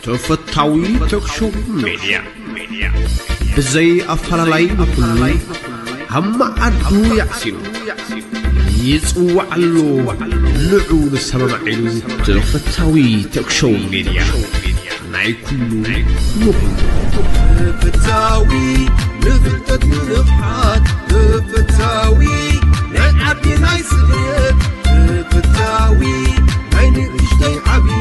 ተፈታዊ ተክሾው ሜድያ ብዘይ ኣፈላላይ ንኹሉ ኣብ መዓዱ ያዕሲኑ ይጽዋዓሉ ንዑ ንሰማማዒሉ ተፈታዊ ተክሾው ሜድያ ናይ ኩሉ ንኹሉ ተፈታዊ ንፍልጠት ንንቕሓት ተፈታዊ ናይ ዓዲ ናይ ስደት ተፈታዊ ናይ ንእሽተይ ዓብዪ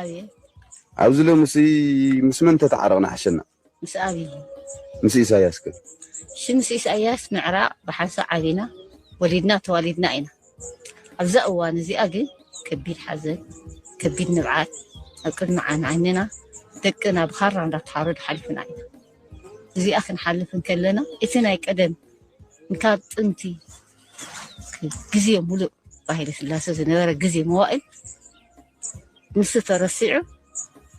ኣብየት ኣብዚ ሎምሲ ምስ መን ተተዓረቕና ሓሸና? ምስ ኣብይ። ምስ ኢሳያስ ከ? እሺ ምስ ኢሳያስ ምዕራቕ ብሓንሳእ ዓቢና ወሊድና ተዋሊድና ኢና። ኣብዛ እዋን እዚኣ ግን ከቢድ ሓዘን ከቢድ ንብዓት ኣብ ቅድሚ ዓይን ዓይንና ደቅና ብኻራ እንዳተሓረዱ ሓሊፍና ኢና። እዚኣ ክንሓልፍ እንከለና እቲ ናይ ቀደም እንካብ ጥንቲ ግዜ ሙሉእ ብሃይለ ስላሰ ዝነበረ ግዜ መዋእል ንሱ ተረሲዑ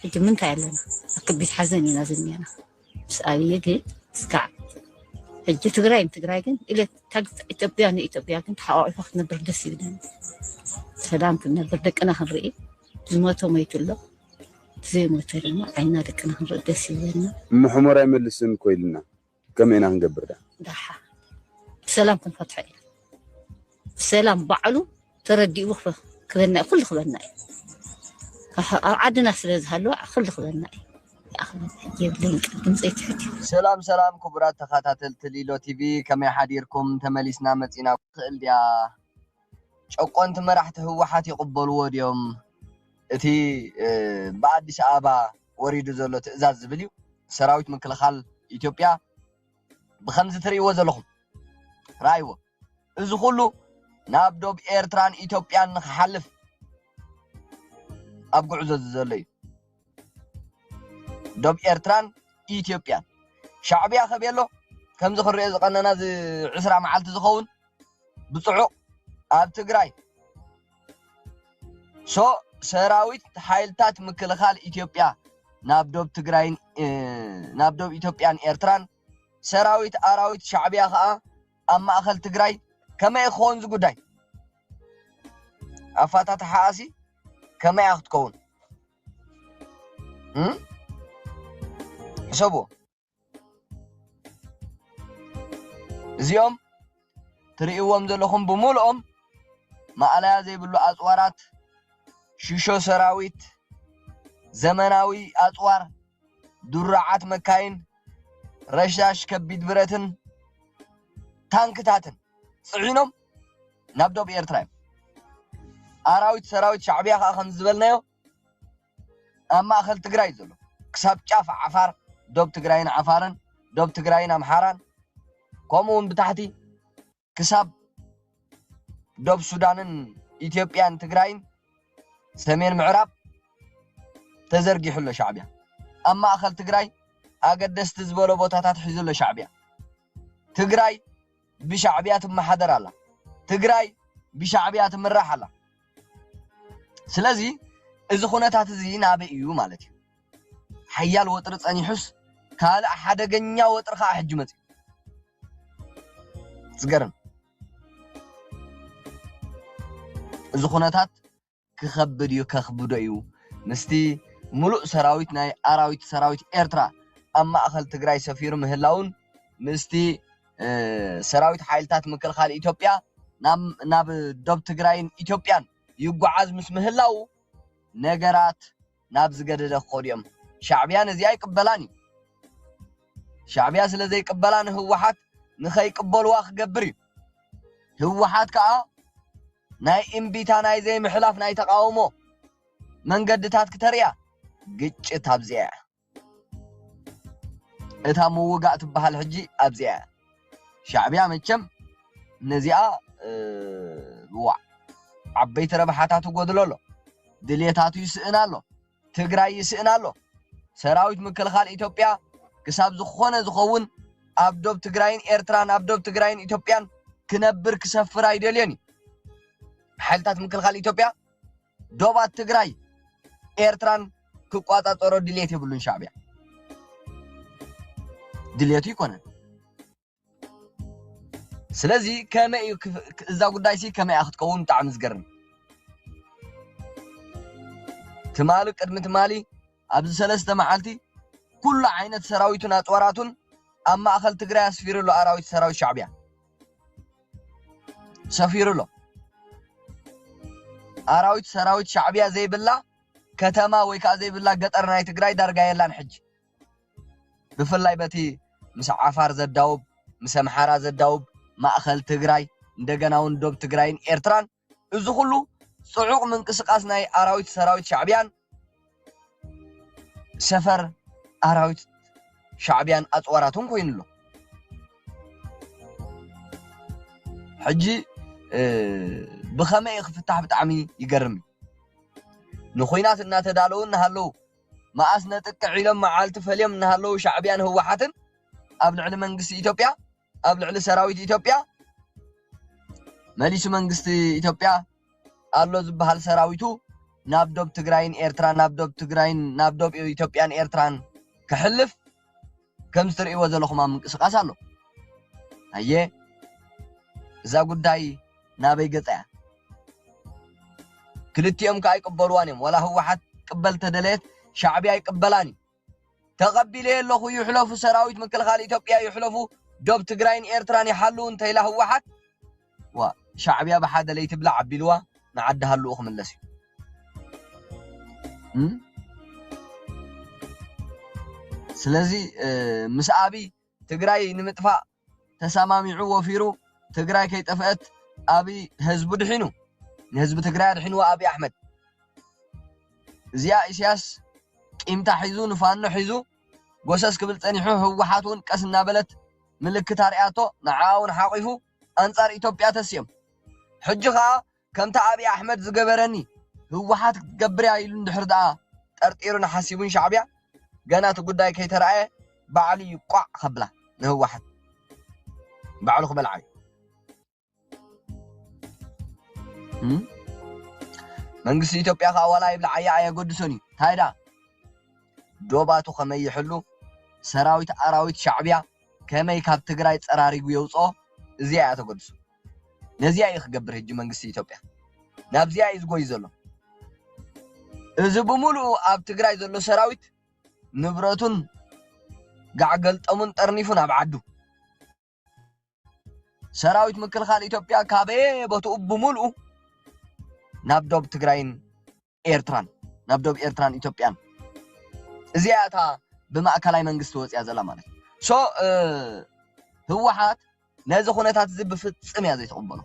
ሕጂ ምንታይ ኣለና ኣብ ከቢድ ሓዘን ኢና ዝኒና ምስ ኣብዪ ግን እስካዕ ሕጂ ትግራይ ንትግራይ ግን ኢለት ኢትዮጵያ ንኢትዮጵያ ግን ተሓቋቂፋ ክትነብር ደስ ይብለኒ ሰላም ክንነብር ደቅና ክንርኢ ዝሞተ ሞይቱ ኣሎ ዘይሞተ ድማ ዓይና ደቅና ክንርኢ ደስ ይብለና ምሕሞር ኣይመልስን ኮይልና ከመይ ኢና ክንገብር ዳ ዳሓ ብሰላም ክንፈትሖ ኢና ብሰላም ባዕሉ ተረዲኡ ክበና እዩ ኩሉ ክበና እዩ ኣብ ዓድና ስለ ዝሃለወ ኩሉ ክበና እዩ ሰላም ሰላም ክቡራት ተኸታተልቲ ሊሎ ቲቪ ከመይ ሓዲርኩም ተመሊስና መፂና ትኽእል ድያ ጨቆንቲ መራሕቲ ህወሓት ይቕበልዎ ድዮም? እቲ ብኣዲስ ኣበባ ወሪዱ ዘሎ ትእዛዝ ዝብል እዩ። ሰራዊት ምክልኻል ኢትዮጵያ ብኸምዚ ትርእይዎ ዘለኹም ረኣይዎ። እዚ ኩሉ ናብ ዶብ ኤርትራን ኢትዮጵያን ንክሓልፍ ኣብ ጉዕዞ ዘሎ እዩ። ዶብ ኤርትራን ኢትዮጵያን ሻዕብያ ከቤሎ ከምዚ ክንሪኦ ዝቐነና እዚ ዕስራ መዓልቲ ዝኸውን ብፅዑቕ ኣብ ትግራይ ሶ ሰራዊት ሓይልታት ምክልኻል ኢትዮጵያ ናብ ዶብ ትግራይን ናብ ዶብ ኢትዮጵያን ኤርትራን ሰራዊት ኣራዊት ሻዕብያ ከዓ ኣብ ማእኸል ትግራይ ከመይ እዩ ክኸውን እዚ ጉዳይ ኣፋታትሓኣሲ ከመይ እያ ክትከውን ሕሰብዎ እዚኦም ትርእይዎም ዘለኹም ብምልኦም ማእለያ ዘይብሉ ኣፅዋራት ሽሾ ሰራዊት ዘመናዊ ኣፅዋር ድሩዓት መካይን፣ ረሻሽ ከቢድ ብረትን ታንክታትን ጽዒኖም ናብ ዶብ ኤርትራ እዮም ኣራዊት ሰራዊት ሻዕብያ ከዓ ከም ዝበልናዮ ኣብ ማእኸል ትግራይ ዘሎ ክሳብ ጫፍ ዓፋር ዶብ ትግራይን ዓፋርን ዶብ ትግራይን ኣምሓራን ከምኡ እውን ብታሕቲ ክሳብ ዶብ ሱዳንን ኢትዮጵያን ትግራይን ሰሜን ምዕራብ ተዘርጊሑ ኣሎ ሻዕቢያ ኣብ ማእኸል ትግራይ ኣገደስቲ ዝበሎ ቦታታት ሒዙ ኣሎ ሻዕቢያ ትግራይ ብሻዕቢያ ትመሓደር ኣላ ትግራይ ብሻዕቢያ ትምራሕ ኣላ ስለዚ እዚ ኩነታት እዚ ናበይ እዩ ማለት እዩ ሓያል ወጥሪ ጸኒሑስ ካልእ ሓደገኛ ወጥሪ ከኣ ሕጂ መጺኡ ዝገርም እዚ ኩነታት ክኸብድ እዩ ከኽብዶ እዩ ምስቲ ሙሉእ ሰራዊት ናይ ኣራዊት ሰራዊት ኤርትራ ኣብ ማእኸል ትግራይ ሰፊሩ ምህላውን ምስቲ ሰራዊት ሓይልታት ምክልኻል ኢትዮጵያ ናብ ዶብ ትግራይን ኢትዮጵያን ይጓዓዝ ምስ ምህላው ነገራት ናብ ዝገደደ ክኸዱ እዮም ሻዕብያ ነዚኣ ኣይቅበላን እዩ ሻዕብያ ስለ ዘይቅበላ ንህወሓት ንኸይቅበልዋ ክገብር እዩ ህወሓት ከዓ ናይ እምቢታ ናይ ዘይምሕላፍ ናይ ተቃውሞ መንገድታት ክተርእያ ግጭት ኣብዚኣ እያ እታ ምውጋእ ትበሃል ሕጂ ኣብዚኣ እያ ሻዕብያ መቸም ነዚኣ ዋዕ ዓበይቲ ረብሓታት ይጎድሎ ኣሎ ድልየታቱ ይስእን ኣሎ ትግራይ ይስእን ኣሎ ሰራዊት ምክልኻል ኢትዮጵያ ክሳብ ዝኾነ ዝኸውን ኣብ ዶብ ትግራይን ኤርትራን ኣብ ዶብ ትግራይን ኢትዮጵያን ክነብር ክሰፍር ኣይደልዮን እዩ ሓይልታት ምክልኻል ኢትዮጵያ ዶባት ትግራይ ኤርትራን ክቋጻጸሮ ድሌት የብሉን ሻዕብያ ድሌቱ ይኮነን ስለዚ ከመይ እዩ እዛ ጉዳይ ሲ ከመይ እያ ክትከውን ብጣዕሚ ዝገርም ትማሊ ቅድሚ ትማሊ ኣብዚ ሰለስተ መዓልቲ ኩሉ ዓይነት ሰራዊቱን ኣፅዋራቱን ኣብ ማእኸል ትግራይ ኣስፊሩ ኣሎ። ኣራዊት ሰራዊት ሻዕቢያ ሰፊሩ ኣሎ። ኣራዊት ሰራዊት ሻዕቢያ ዘይብላ ከተማ ወይ ከዓ ዘይብላ ገጠር ናይ ትግራይ ዳርጋ የላን ሕጂ ብፍላይ በቲ ምስ ዓፋር ዘዳውብ ምስ ኣምሓራ ዘዳውብ ማእኸል ትግራይ እንደገና እውን ዶብ ትግራይን ኤርትራን እዚ ኩሉ ጽዑቕ ምንቅስቓስ ናይ ኣራዊት ሰራዊት ሻዕብያን ሰፈር ኣራዊት ሻዕብያን ኣፅዋራቱን ኮይኑ ኣሎ ሕጂ ብኸመይ ክፍታሕ ብጣዕሚ ይገርም ንኩናት እናተዳለዉ እናሃለዉ መኣስ ነጥቅዕ ኢሎም መዓልቲ ፈልዮም እናሃለዉ ሻዕብያን ህወሓትን ኣብ ልዕሊ መንግስቲ ኢትዮጵያ ኣብ ልዕሊ ሰራዊት ኢትዮጵያ መሊሱ መንግስቲ ኢትዮጵያ ኣሎ ዝበሃል ሰራዊቱ ናብ ዶብ ትግራይን ኤርትራ ናብ ዶብ ትግራይን ናብ ዶብ ኢትዮጵያን ኤርትራን ክሕልፍ ከም ዝትርእይዎ ዘለኹም ኣብ ምንቅስቃስ ኣሎ ኣየ እዛ ጉዳይ ናበይ ገፃ እያ ክልቲኦም ከዓ ይቅበልዋን እዮም ዋላ ህወሓት ቅበል ተደለየት ሻዕቢያ ይቅበላን እዩ ተቐቢለዮ ኣለኹ ይሕለፉ ሰራዊት ምክልኻል ኢትዮጵያ ይሕለፉ ዶብ ትግራይን ኤርትራን ይሓልው እንተይላ ህወሓት ዋ ሻዕብያ ብሓደ ለይትብላዕ ኣቢልዋ ንዓዲ ሃልኡ ክምለስ እዩ ስለዚ ምስ ኣብይ ትግራይ ንምጥፋእ ተሳማሚዑ ወፊሩ ትግራይ ከይጠፈአት ኣብይ ህዝቡ ድሒኑ ንህዝቢ ትግራይ ኣድሒንዎ ኣብይ ኣሕመድ እዚኣ ኢሳያስ ቂምታ ሒዙ ንፋኖ ሒዙ ጎሰስ ክብል ጸኒሑ ህወሓት እውን ቀስ እናበለት ምልክት ኣርኣያቶ ንዓኣ እውን ሓቂፉ ኣንጻር ኢትዮጵያ ተሲኦም ሕጂ ከዓ ከምቲ ኣብይ ኣሕመድ ዝገበረኒ ህወሓት ክትገብር እያ ኢሉ እንድሕር ደኣ ጠርጢሩን ሓሲቡን ሻዕቢያ ገና እቲ ጉዳይ ከይተረኣየ ባዕሉ እዩ ቋዕ ከብላ ንህወሓት ባዕሉ ክበልዓ እዩ መንግስቲ ኢትዮጵያ ከዓ ዋላ ይብልዓያ ኣየገድሶን እዩ እንታይ ደኣ ዶባቱ ከመይ ይሕሉ ሰራዊት ኣራዊት ሻዕቢያ ከመይ ካብ ትግራይ ፀራሪጉ የውፅኦ እዚኣ እያ ተገድሶ ነዚኣ እዩ ክገብር ህጂ መንግስቲ ኢትዮጵያ ናብዚኣ እዩ ዝጎይ ዘሎ እዚ ብምሉኡ ኣብ ትግራይ ዘሎ ሰራዊት ንብረቱን ጋዕገልጠሙን ጠርኒፉን ኣብ ዓዱ ሰራዊት ምክልኻል ኢትዮጵያ ካበየ ቦትኡ ብምሉኡ ናብ ዶብ ትግራይን ኤርትራን ናብ ዶብ ኤርትራን ኢትዮጵያን እዚኣ እያ እታ ብማእከላይ መንግስቲ ወጺኣ ዘላ ማለት እዩ ሶ ህወሓት ነዚ ኩነታት እዚ ብፍጽም እያ ዘይትቕበሎ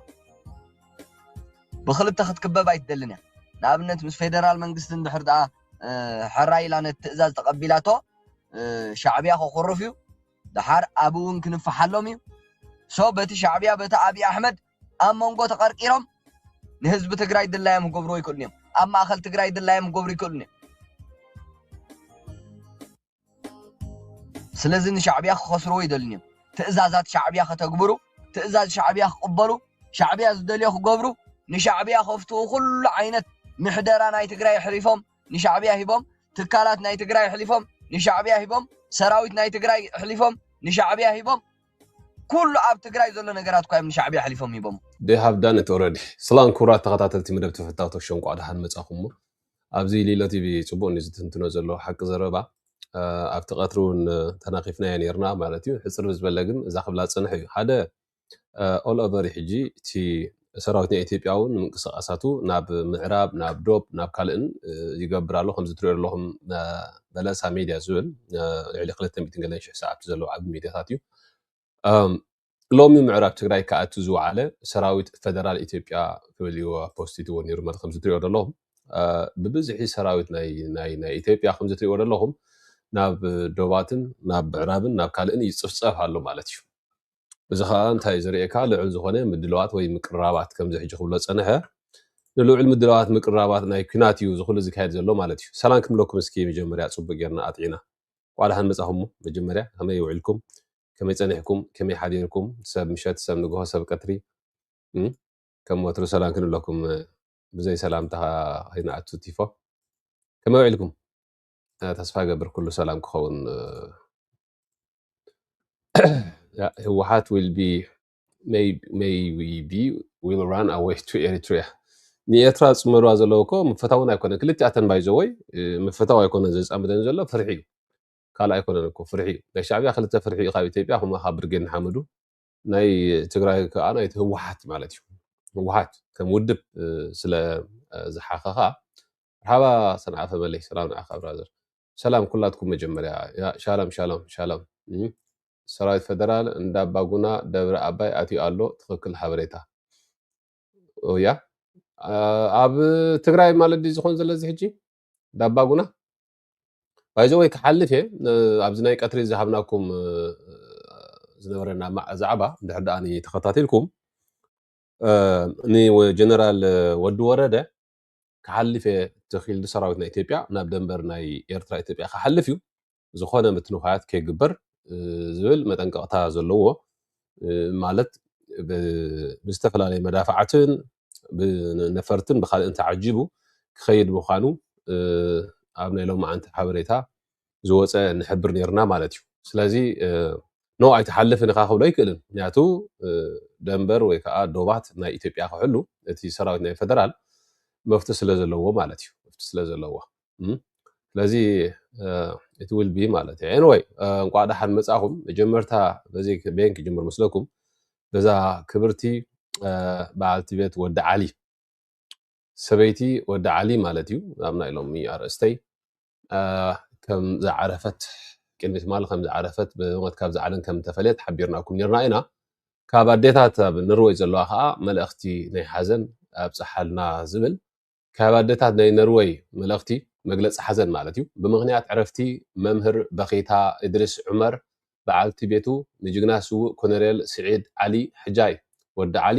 ብክልተ ክትክበብ ኣይትደልን እያ ንኣብነት ምስ ፌደራል መንግስቲ እንድሕር ደኣ ሕራይ ኢላ ነቲ ትእዛዝ ተቐቢላቶ ሻዕብያ ክኹርፍ እዩ ደሓር ኣብኡ እውን ክንፈሓሎም እዩ ሶ በቲ ሻዕብያ በቲ ኣብዪ ኣሕመድ ኣብ መንጎ ተቐርቂሮም ንህዝቢ ትግራይ ድላዮም ክገብርዎ ይክእሉን እዮም ኣብ ማእኸል ትግራይ ድላዮም ክገብሩ ይክእሉን እዮም ስለዚ ንሻዕብያ ክኸስርዎ ይደልን እዮም ትእዛዛት ሻዕብያ ከተግብሩ ትእዛዝ ሻዕብያ ክቕበሉ ሻዕብያ ዝደልዮ ክገብሩ ንሻዕብያ ከፍትኡ ኩሉ ዓይነት ምሕደራ ናይ ትግራይ ኣሕሪፎም ንሻዕብያ ሂቦም ትካላት ናይ ትግራይ ኣሕሊፎም ንሻዕብያ ሂቦም ሰራዊት ናይ ትግራይ ኣሕሊፎም ንሻዕብያ ሂቦም ኩሉ ኣብ ትግራይ ዘሎ ነገራት እኳ እዮም ንሻዕብያ ኣሕሊፎም ሂቦሞ። They have done it already ስላም ክብራት ተኸታተልቲ መደብ ተፈታውቶክ ሾው እንቋዕ ደሓን መጻኹሞ ኣብዚ ሊሎ ቲቪ ጽቡቕ እንዩ ዝትንትኖ ዘሎ ሓቂ ዘረባ ኣብቲ ቀትሪ እውን ተናኺፍናዮ ነርና ማለት እዩ ሕጽር ዝበለ ግን እዛ ክብላ ዝጸንሐ እዩ ሓደ ኦል ኦቨር እዩ ሕጂ እቲ ሰራዊት ናይ ኢትዮጵያ ውን ምንቅስቃሳቱ ናብ ምዕራብ ናብ ዶብ ናብ ካልእን ይገብር ኣሎ ከምዚ ትሪኦ ዘለኹም በለሳ ሜድያ ዝብል ልዕሊ ክልተ ሚእትን ገለን ሽሕ ሰዓብቲ ዘለዎ ዓቢ ሜድያታት እዩ ሎሚ ምዕራብ ትግራይ ክኣቱ ዝወዓለ ሰራዊት ፈደራል ኢትዮጵያ ክብል እዩ ፖስቲትዎ ነይሩ ማለት ከምዚ ትሪኦ ዘለኹም ብብዝሒ ሰራዊት ናይ ኢትዮጵያ ከምዚ ትሪእዎ ዘለኹም ናብ ዶባትን ናብ ምዕራብን ናብ ካልእን ይፅፍፀፍ ኣሎ ማለት እዩ እዚ ከኣ እንታይ እዩ ዘርእየካ ልዑል ዝኾነ ምድልዋት ወይ ምቅርራባት ከምዚ ሕጂ ክብሎ ዝጸንሐ ንልዑል ምድልዋት ምቅርራባት ናይ ኩናት እዩ እዚ ኩሉ ዝካየድ ዘሎ ማለት እዩ ሰላም ክምለኩም እስኪ መጀመርያ ጽቡቅ ጌርና ኣጥዒና ዋዕ ደሓን መጻኹም መጀመርያ ከመይ ውዒልኩም ከመይ ጸኒሕኩም ከመይ ሓዲርኩም ሰብ ምሸት ሰብ ንግሆ ሰብ ቀትሪ ከም ወትሩ ሰላም ክንብለኩም ብዘይ ሰላምታ ከይንኣቱ ቲፎ ከመይ ውዒልኩም ተስፋ ገብር ኩሉ ሰላም ክኸውን Yeah, ህወሓት will be may may we be will run away to Eritrea ንኤርትራ ዝፅመድዋ ዘለዉ እኮ ምፈታውን ኣይኮነ ክልቲኣተን ባይዘወይ ምፍታው ኣይኮነ ዘፃምደን ዘሎ ፍርሒ እዩ ካልእ ኣይኮነን እኮ ፍርሒ እዩ ናይ ሻዕብያ ክልተ ፍርሒ እዩ ካብ ኢትዮጵያ ከምኡ ካብ ብርጌድ ንሓመዱ ናይ ትግራይ ከዓ ናይቲ ህወሓት ማለት እዩ ህወሓት ከም ውድብ እ፣ ስለ እ፣ ዝሓኸኻ ሓባ ሰንዓፈ መለይ ሰላም ንዓኻ ብራዘር ሰላም ኩላትኩም መጀመርያ ያ ሻላም ሻላም ሻላም እም፣ ሰራዊት ፈደራል እንዳ ባጉና ደብረ ኣባይ ኣትዩ ኣሎ ትኽክል ሓበሬታ ኦ፣ ያ ኣ- ኣብ ትግራይ ማለት ድዩ ዝኾን ዘሎ እዚ ሕጂ ዳባጉና ባይዘ ወይ ክሓልፍ እየ ነ- ኣብዚ ናይ ቀትሪ ዝሃብናኩም እ፣ ዝነበረና ማዕ- ዛዕባ እንድሕር ደኣ ተኸታቲልኩም እ፣ ንጀነራል ወዲ ወረደ ክሓልፍ እየ ተኪሉ ሰራዊት ናይ ኢትዮጵያ ናብ ደንበር ናይ ኤርትራ ኢትዮጵያ ክሓልፍ እዩ ዝኾነ ምትንዃያት ከይግበር ዝብል መጠንቀቕታ ዘለዎ ማለት ብዝተፈላለየ መዳፍዓትን ብነፈርትን ብካልእን ተዓጂቡ ክኸይድ ምዃኑ ኣብ ናይ ሎማዓንቲ ሓበሬታ ዝወፀ ንሕብር ነይርና ማለት እዩ ስለዚ ኖ ኣይትሓልፍን ኢኻ ክብሎ ኣይክእልን ምክንያቱ ደንበር ወይ ከዓ ዶባት ናይ ኢትዮጵያ ክሕሉ እቲ ሰራዊት ናይ ፈደራል መፍት ስለ ዘለዎ ማለት እዩ መፍት ስለ ዘለዎ እም። ስለዚ እቲ ውልቢ ማለት እዩ ኤንወይ እንቋዕ ደሓን መጻኹም መጀመርታ በዚ ቤን ክጅምር ምስለኩም በዛ ክብርቲ አ፣ በዓልቲ ቤት ወዲ ዓሊ ሰበይቲ ወዲ ዓሊ ማለት እዩ ኣብ ናይ ሎሚ ኣርእስተይ ከም ዝዓረፈት ቅድሚ ትማሊ ከም ዝዓረፈት ብሞት ካብ ዝዓለም ከም ተፈልየት ሓቢርናኩም ነርና ኢና ካብ ኣዴታት ኣብ ነርወይ ዘለዋ ከዓ መልእኽቲ ናይ ሓዘን ኣብፀሓልና ዝብል ካብ ኣዴታት ናይ ነርወይ መልእኽቲ መግለፂ ሓዘን ማለት እዩ ብምክንያት ዕረፍቲ መምህር በኺታ እድሪስ ዑመር በዓልቲ ቤቱ ንጅግና ስውእ ኮነሬል ስዒድ ዓሊ ሕጃይ ወዲ ዓሊ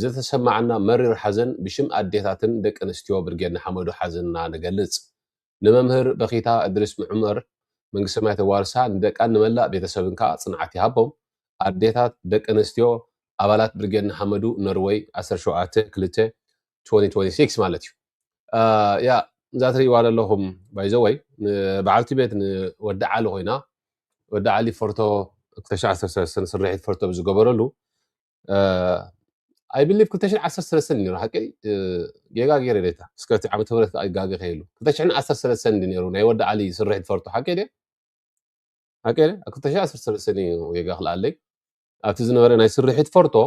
ዝተሰማዓና መሪር ሓዘን ብሽም ኣዴታትን ደቂ ኣንስትዮ ብርጌድ ንሓመዱ ሓዘንና ንገልጽ። ንመምህር በኺታ እድሪስ ዑመር መንግስተ ሰማያት የዋርሳ፣ ንደቃን ንመላእ ቤተሰብን ከኣ ጽንዓት ይሃቦም። ኣዴታት፣ ደቂ ኣንስትዮ ኣባላት ብርጌድ ንሓመዱ፣ ኖርወይ፣ ዓሰርተ ሸውዓተ፣ ክልተ፣ ቱወኒ ቱወኒ ሲክስ ማለት እዩ። ያ እዛ ትርእይዋ ዘለኹም ባይዘወይ ንበዓልቲ ቤት ንወዲ ዓሊ ኮይና ወዲ ዓሊ ፎርቶ ክልተ ሽሕ ዓሰርተ ሰለስተ ንስርሒት ፎርቶ ብዝገበረሉ ኣይ ብሊቭ 213 ነይሩ ሓቂ ጌጋ ገይረ ዴታ እስከ እቲ ዓመተ ምህረት ከዓ ይጋገ ከይሉ 213 እንዲ ነይሩ ናይ ወዲ ዓሊ ስርሒ ትፈልጡ ሓቂ ድየ ሓቂ ድየ ኣብ 213 እዩ ጌጋ ክልኣለይ ኣብቲ ዝነበረ ናይ ስርሒ ትፈርቶ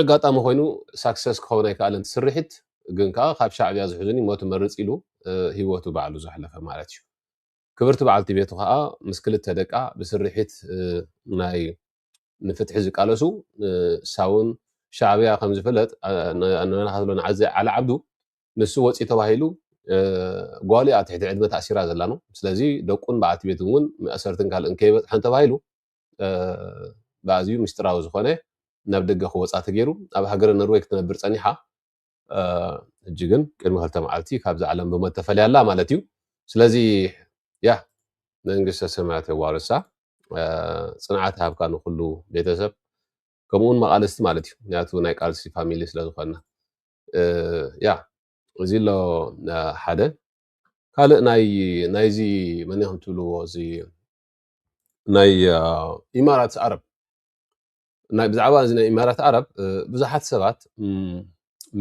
ኣጋጣሚ ኮይኑ ሳክሰስ ክኸውን ኣይከኣለን እቲ ስርሒት ግን ከዓ ካብ ሻዕብያ ዝሕዙኒ ሞት መርፅ ኢሉ ሂወቱ ባዕሉ ዘሕለፈ ማለት እዩ ክብርቲ በዓልቲ ቤቱ ከኣ ምስ ክልተ ደቃ ብስርሒት ናይ ንፍትሒ ዝቃለሱ ሳውን ሻዕብያ ከም ዝፍለጥ ንናታትሎ ንዓዘ ዓሊ ዓብዱ ንሱ ወጺ ተባሂሉ ጓሉ ኣብ ትሕቲ ዕድመ ተኣሲራ ዘላኖ ስለዚ ደቁን በዓልቲ ቤቱን እውን መእሰርትን ካልእን ከይበጽሐን ተባሂሉ ብኣዝዩ ምስጢራዊ ዝኾነ ናብ ደገ ክወጻ ተገይሩ ኣብ ሃገረ ኖርወይ ክትነብር ጸኒሓ እጂ ግን ቅድሚ ክልተ መዓልቲ ካብዚ ዓለም ብሞት ተፈልያላ ማለት እዩ ስለዚ ያ መንግስተ ሰማያት የዋርሳ ፅንዓት ሃብካ ንኩሉ ቤተሰብ ከምኡውን መቃልስቲ ማለት እዩ ምክንያቱ ናይ ቃልሲ ፋሚሊ ስለዝኮና ያ እዚ ኣሎ ሓደ ካልእ ናይ ናይዚ መን ኢኹም ትብልዎ እዚ ናይ ኢማራት ዓረብ ናይ ብዛዕባ እዚ ናይ ኢማራት ዓረብ ብዙሓት ሰባት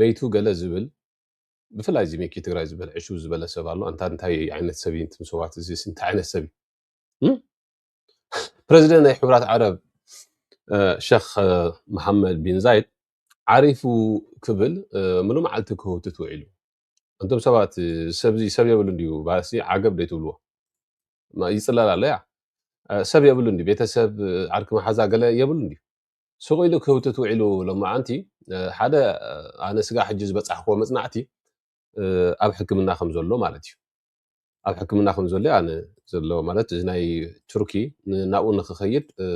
መይቱ ገለ ዝብል ብፍላይ እዚ ሚኪ ትግራይ ዝበል ዕሹ ዝበለ ሰብ ኣሎ እንታ እንታይ ዓይነት ሰብ እዩ እንትም ሰባት እዚ እንታይ ዓይነት ሰብ እዩ ፕረዚደንት ናይ ሕብራት ዓረብ ሸክ መሓመድ ቢን ዛይድ ዓሪፉ ክብል ምሉ መዓልቲ ክህውትት ውዒሉ እንቶም ሰባት ሰብዚ ሰብ የብሉ እንዲዩ ባሲ ዓገብ ደይትብልዎ ማ- ይጽለል ኣሎ ያ እ፣ ሰብ የብሉ እንዲ ቤተሰብ እ፣ ዓርኪ መሓዛ ገለ የብሉ እንዲ ስቕ ኢሉ ክህውትት ውዒሉ ሎማዓንቲ እ፣ ሓደ እ፣ ኣነ ስጋ ሕጂ ዝበጻሕክዎ መጽናዕቲ እ፣ ኣብ ሕክምና ከም ዘሎ ማለት እዩ ኣብ ሕክምና ከም ዘሎ ኣነ ዘሎ ማለት እዚ ናይ ቱርኪ ን- ናብኡ ንክኸይድ እ፣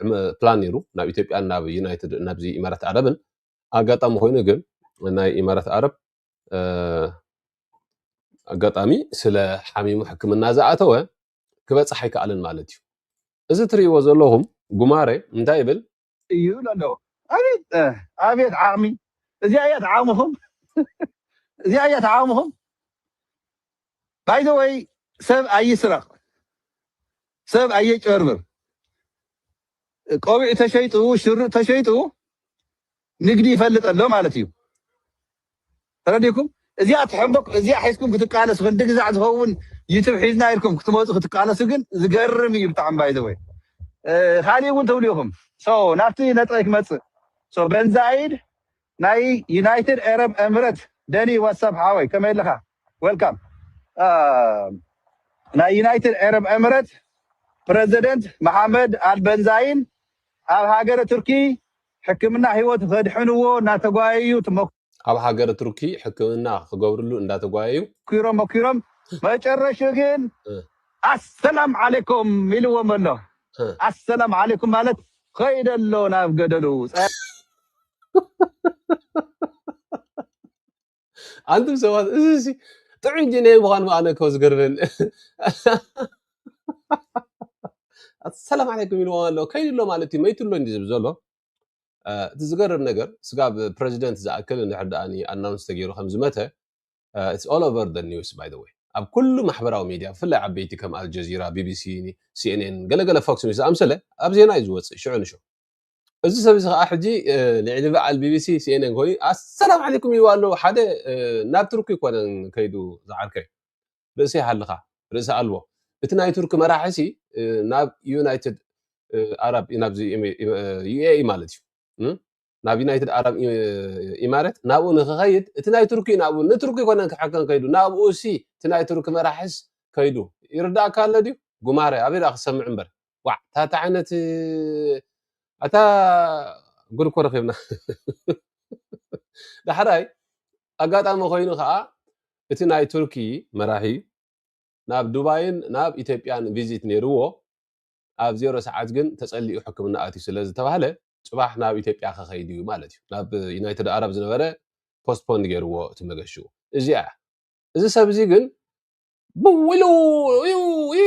ዕመ- ፕላን ነይሩ ናብ ኢትዮጵያ ናብ ዩናይትድ ናብዚ ኢማራት ዓረብን ኣጋጣሚ ኮይኑ ግን ናይ ኢማራት ዓረብ ኣጋጣሚ ስለ ሓሚሙ ሕክምና ዝኣተወ ክበፅሕ ኣይከኣልን ማለት እዩ። እዚ ትርእይዎ ዘለኹም ጉማረ እንታይ ይብል? እዩ ኢሉ ኣሎ። ኣቤት ኣቤት ዓቕሚ! እዚኣ እያ እቲ ዓቕምኹም፣ እዚኣ እያ እቲ ዓቕምኹም። ባይዘወይ ሰብ ኣይስረቅ ሰብ ኣየጭበርብር ቆቢዕ ተሸይጡ ሽርጥ ተሸይጡ ንግዲ ይፈልጥ ኣሎ ማለት እዩ ተረዲኩም እዚኣ ትሕንበክ እዚኣ ሒዝኩም ክትቃለሱ ክንዲ ግዛዕ ዝኸውን ዩቱብ ሒዝና ኢልኩም ክትመፁ ክትቃለሱ ግን ዝገርም እዩ ብጣዕሚ ባይዘወይ ካሊእ እውን ትብሉ ኢኹም ናብቲ ነጥበይ ክመፅእ በንዛይድ ናይ ዩናይትድ ኤረብ ኤምረት ደኒ ዋትስ ኣፕ ሓወይ ከመይ ኣለኻ ዌልካም ናይ ዩናይትድ ኤረብ ኤምረት ፕረዘደንት መሓመድ ኣልበንዛይን ኣብ ሃገረ ቱርኪ ሕክምና ህይወቱ ከድሕንዎ እናተጓየዩ ትመኩ ኣብ ሃገረ ቱርኪ ሕክምና ክገብርሉ እንዳተጓየዩ ኪሮም መኪሮም መጨረሹ ግን እ። ኣሰላም ዓሌኩም ኢልዎም ኣሎ እ። ኣሰላም ዓሌኩም ማለት ኸይደ ኣሎ ናብ ገደሉ ጸ- ኣንቱም ሰባት እዚ እዚ ጥዑይ ጂነይ ምዃኑ ኣነ እኮ ዝገርመኒ ሰላም ዓለይኩም ኢልዎም ኣሎ ከይዱ ኣሎ ማለት እዩ መይቱ ኣሎ እንዲዩ ዝብል ዘሎ አ፣ እቲ ዝገርም ነገር ስጋብ ፕረዚደንት ዝኣክል እንድሕር ደኣ ኣናውንስ ተገይሩ ከም ዝመተ ኢትስ ኦል ኦቨር ደ ኒውስ ባይ ዘ ወይ ኣብ ኩሉ ማሕበራዊ ሚድያ ብፍላይ ዓበይቲ ከም ኣልጀዚራ ቢቢሲ ሲኤንኤን ገለገለ ፎክስ ኒውስ ዝኣምሰለ ኣብ ዜና እዩ ዝወፅእ ሽዑ ንሽዑ እዚ ሰብ እዚ ከዓ ሕጂ ልዕሊ በዓል ቢቢሲ ሲኤንኤን ኮይኑ ኣሰላም ዓለይኩም ይብሉ ኣለዉ ሓደ ናብ ቱርኪ ኮነን ከይዱ ዝዓርከይ ርእሲ ይሃልኻ ርእሲ ኣልቦ እቲ ናይ ቱርኪ መራሒ ሲ ናብ ዩናይትድ ኣራብ ናብዚ ዩኤኢ ማለት እዩ ናብ ዩናይትድ ኣራብ ኢማረት ናብኡ ንክኸይድ እቲ ናይ ቱርኪ ናብኡ ንቱርኪ ኮነን ክሕከን ከይዱ ናብኡ ሲ እቲ ናይ ቱርኪ መራሒስ ከይዱ ይርዳእካ ኣሎ ድዩ ጉማረ ኣበይ ዳ ክሰምዕ እምበር ዋዕ እታ እታ ዓይነት ኣታ ጉድ እኮ ረኺብና ዳሕራይ ኣጋጣሚ ኮይኑ ከዓ እቲ ናይ ቱርኪ መራሒ ናብ ዱባይን ናብ ኢትዮጵያን ቪዚት ነይርዎ ኣብ ዜሮ ሰዓት ግን ተጸሊኡ ሕክምና ኣትዩ ስለ ዝተባህለ ጽባሕ ናብ ኢትዮጵያ ከኸይድ እዩ ማለት እዩ ናብ ዩናይትድ ኣረብ ዝነበረ ፖስትፖንድ ገይርዎ እቲ መገሽኡ እዚኣ እዚ ሰብ እዚ ግን ብውሉ እዩ ይ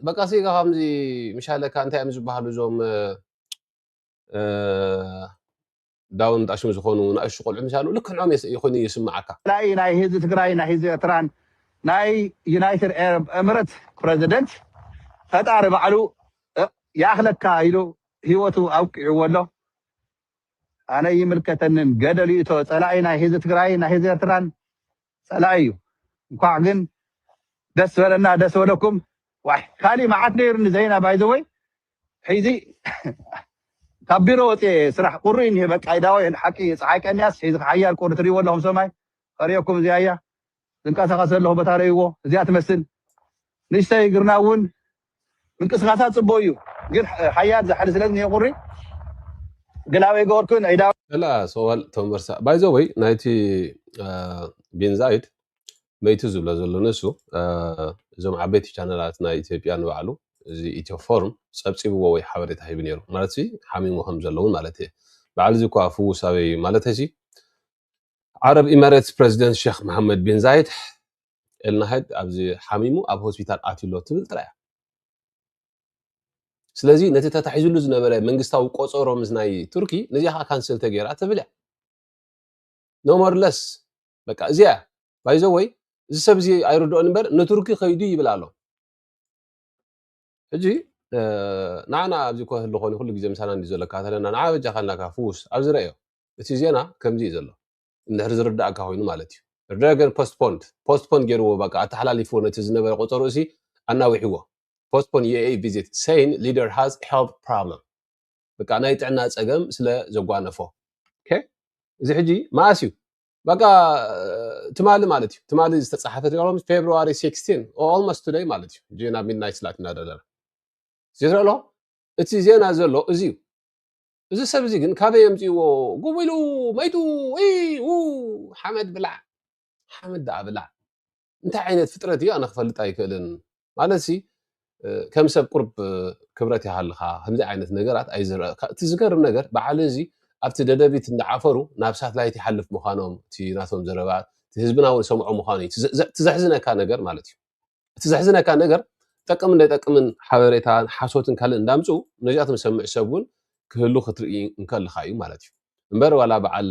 በቃ ሲ ከምዚ ምሻለካ እንታይ እዮም ዝበሃሉ እዞም እ፣ ዳውን ጣሽሙ ዝኾኑ ንኣሽቱ ቆልዑ ምሳሉ ልክዕ ንኦም የስ- ይኹን እዩ ይስምዓካ ላኢ ናይ ህዝቢ ትግራይ ናይ ህዝቢ ኤርትራን ናይ ዩናይትድ ኤረብ ኤምረት ፕረዚደንት ፈጣሪ ባዕሉ እ፣ ይኣኽለካ ኢሉ ህይወቱ ኣብቂዕዎ ኣሎ ኣነ ይምልከተንን ገደል ይእቶ ፀላኢ ናይ ህዝቢ ትግራይ ናይ ህዝቢ ኤርትራን ጸላኢ እዩ እንኳዕ ግን ደስ በለና ደስ በለኩም ዋይ ካሊእ መዓት ነይሩኒ ዘይና ባይዘወይ ሒዚ ካብ ቢሮ ወፅየ ስራሕ ቁሪ እኒሄ በቃ ይዳወይ ሓቂ ፀሓይ ቀንያስ ሒዚ ሓያል ቁሪ ትሪእዎ ኣለኹም ሰማይ ከሪኦኩም እዚኣ እያ ዝንቀሳቐስ ዘለኹ ቦታ ረእይዎ እዚኣ ትመስል ንእሽተይ ግርና እውን ምንቅስቃሳ ጽቡቅ እዩ ግን ሓያል ዛሕሊ ስለ ዝኒሀ ቁሪ ግላብ ኣይገበርኩን ዒዳዊ ከላ ሰዋል ተመርሳ ባይ ዘ ወይ ናይቲ ቢንዛይድ መይቲ ዝብሎ ዘሎ ንሱ አ፣ እዞም ዓበይቲ ቻነላት ናይ ኢትዮጵያ ንባዕሉ እዚ ኢትዮ ፎርም ጸብጺብዎ ወይ ሓበሬታ ሂቡ ነይሩ ማለት ሲ ሓሚሙ ከም ዘለውን ማለት እየ በዓል እዚ እኳ ፍውስ ኣበይ እዩ ማለት ሲ ዓረብ ኢመሬትስ ፕረዚደንት ሸኽ መሓመድ ቢን ዛይድ ኤልናሃይድ ኣብዚ ሓሚሙ ኣብ ሆስፒታል ኣትዩ ኣሎ ትብል ጥራይ እያ። ስለዚ ነቲ ተታሒዝሉ ዝነበረ መንግስታዊ ቆጸሮ ምስ ናይ ቱርኪ ነዚኣ ከዓ ካንስል ተገይራ ትብል እያ። ኖ ሞር ለስ በቃ እዚኣ እያ። ባይዘወይ እዚ ሰብ እዚ ኣይርድኦን እምበር ንቱርኪ ከይዱ ይብል ኣሎ። ሕጂ ንዓና ኣብዚ እኳ ህሉ ኮኒ ኩሉ ግዜ ምሳና እንዲ ዘሎ ካተለና ንዓ በጃካ እናካ ፍውስ ኣብዚ ረእዮ እቲ ዜና ከምዚ እዩ ዘሎ እንድሕር ዝርዳእካ ኮይኑ ማለት እዩ ረገን ፖስትፖንድ ፖስትፖን ገይርዎ በቃ ኣተሓላሊፍዎ ነቲ ዝነበረ ቆፀሩ እሲ ኣናዊሕዎ ፖስትፖን የኤ ቪዚት ሰይን ሊደር ሃዝ ሄልት ፕሮብለም በቃ ናይ ጥዕና ፀገም ስለ ዘጓነፎ እዚ ሕጂ መኣስ እዩ በቃ ትማሊ ማለት እዩ ትማሊ ዝተፃሓፈት ሮም ፌብሪ 16 ኦልሞስ ቱደይ ማለት እዩ እ ናብ ሚድናይት ስላት እናደለና ዝትረ ኣለኹ እቲ ዜና ዘሎ እዚ እዩ እዚ ሰብ እዚ ግን ካበይ የምፅእዎ ጉቡ ኢሉ መይቱ ው ሓመድ ብላዕ ሓመድ ዳኣ ብላዕ እንታይ ዓይነት ፍጥረት እዩ ኣነ ክፈልጥ ኣይክእልን ማለት ሲ ከም ሰብ ቁርብ ክብረት ይሃልኻ ከምዚ ዓይነት ነገራት ኣይዝረእካ እቲ ዝገርም ነገር በዓል እዚ ኣብቲ ደደቢት እንዳዓፈሩ ናብ ሳትላይት ይሓልፍ ምዃኖም እቲ ናቶም ዘረባ እቲ ህዝብና እውን ሰምዖ ምዃኑ እዩ እቲ ዘሕዝነካ ነገር ማለት እዩ እቲ ዘሕዝነካ ነገር ጠቅምን ዘይጠቅምን ሓበሬታን ሓሶትን ካልእ እንዳምፅኡ ነዚኣቶም ዝሰምዕ ሰብ እውን ክህሉ ክትርኢ እንከልካ እዩ ማለት እዩ እምበር ዋላ በዓል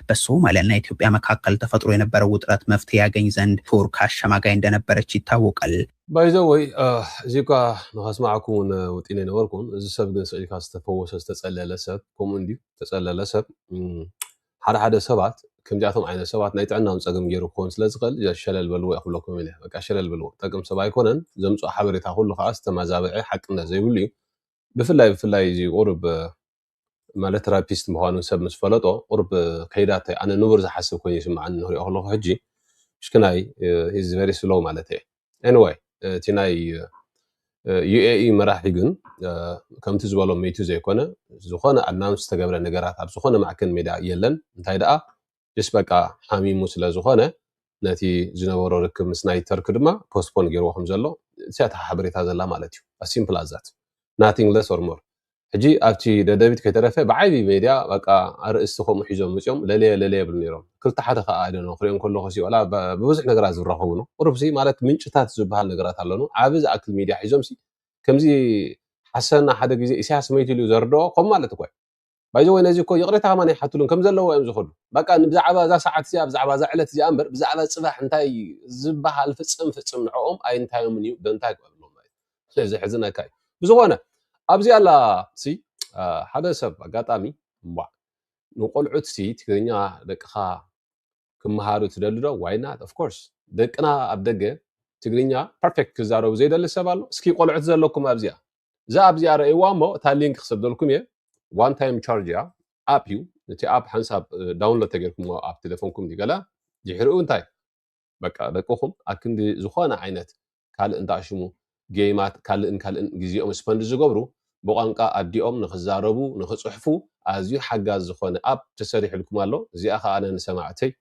በሶማልያን ናይ ኢትዮጵያ መካከል ተፈጥሮ የነበረ ውጥረት መፍትሔ ያገኝ ዘንድ ቱርክ ኣሸማጋይ እንደነበረች ይታወቃል። ባይ ዘ ወይ እዚ እኳ ንኸስማዓኩም እውን ወጢነ ኣይነበርኩን እዚ ሰብ ግን ስዒልካ ዝተፈወሰ ዝተጸለለ ሰብ ከምኡ እንድዩ ዝተጸለለ ሰብ ሓደ ሓደ ሰባት ከምዚኣቶም ዓይነት ሰባት ናይ ጥዕናም ጸገም ገይሩ ክኸውን ስለ ዝኽእል ሸለል በልዎ ክብለኩም ኢለ በቃ ሸለል በልዎ ጠቅም ሰብ ኣይኮነን ዘምጽኦ ሓበሬታ ኩሉ ከዓ ዝተመዛበዐ ሓቅነት ዘይብሉ እዩ ብፍላይ ብፍላይ እዚ ቁርብ ማለት ራፒስት ምዃኑ ሰብ ምስ ፈለጦ ቁርብ ከይዳተ ኣነ ንቡር ዝሓስብ ኮይኑ ይስምዓኒ ንክሪኦ ከለኹ ሕጂ ሽክናይ ሂዝ ቨሪ ስሎው ማለት እየ ኤኒዌይ እቲ ናይ ዩኤኢ መራሒ ግን ከምቲ ዝበሎ ሚቱ ዘይኮነ ዝኾነ ኣናውንስ ዝተገብረ ነገራት ኣብ ዝኾነ ማዕከን ሜዳ የለን እንታይ ደኣ ጅስ በቃ ሓሚሙ ስለ ዝኾነ ነቲ ዝነበሮ ርክብ ምስ ናይ ተርኪ ድማ ፖስትፖን ጌርዎ ከም ዘሎ እቲያ እታ ሓበሬታ ዘላ ማለት እዩ as simple as that nothing less or more ሕጂ ኣብቲ ደደቢት ከይተረፈ ብዓቢ ሜድያ በቃ ኣርእስቲ ከምኡ ሒዞም መጽኦም ለለየ ለለየ ይብሉ ነይሮም ክልተ ሓደ ከዓ ኣይደኖ ክሪኦም ከለኹ ሲ ወላ ብብዙሕ ነገራት ዝራኸቡ ነው ቁሩብ ሲ ማለት ምንጭታት ዝበሃል ነገራት ኣሎኑ ዓቢ ዝኣክል ሚድያ ሒዞም ሲ ከምዚ ሓሰና ሓደ ግዜ ኢሳያስ መይቱ ኢሉ ዘርድኦ ከም ማለት እኳ እዩ ባይዘወይ ነዚ እኮ ይቕሬታ ከማን ኣይሓትሉን ከም ዘለዎ እዮም ዝኸዱ በቃ ብዛዕባ እዛ ሰዓት እዚኣ ብዛዕባ እዛ ዕለት እዚኣ እምበር ብዛዕባ ፅባሕ እንታይ ዝበሃል ፍፅም ፍፅም ንዕኦም ኣይንታዮምን እዩ ደንታ ይግበርሎም ማለት እዩ ዘሕዝነካ እዩ ብዝኾነ ኣብዚ ኣላ ሲ ሓደ ሰብ ኣጋጣሚ እምቧዕ ንቆልዑት ሲ ትግርኛ ደቅኻ ክመሃሩ ትደሊ ዶ ዋይ ናት ኦፍኮርስ ደቅና ኣብ ደገ ትግርኛ ፐርፌክት ክዛረቡ ዘይደሊ ሰብ ኣሎ እስኪ ቆልዑት ዘለኩም ኣብዚኣ እዛ ኣብዚኣ ረእይዋ እሞ እታ ሊንክ ክሰደልኩም እየ ዋን ታይም ቻርጅ እያ ኣፕ እዩ እቲ ኣፕ ሓንሳብ ዳውንሎድ ተገይርኩሞ ኣብ ቴሌፎንኩም ገለ ድሕሪኡ እንታይ በቃ ደቅኹም ኣብ ክንዲ ዝኾነ ዓይነት ካልእ እንዳሽሙ ጌይማት ካልእን ካልእን ግዜኦም ስፐንድ ዝገብሩ ብቋንቃ ኣዲኦም ንክዛረቡ ንክፅሕፉ ኣዝዩ ሓጋዝ ዝኾነ ኣፕ ተሰሪሕልኩም ኣሎ እዚኣ ከዓ ኣነ ንሰማዕተይ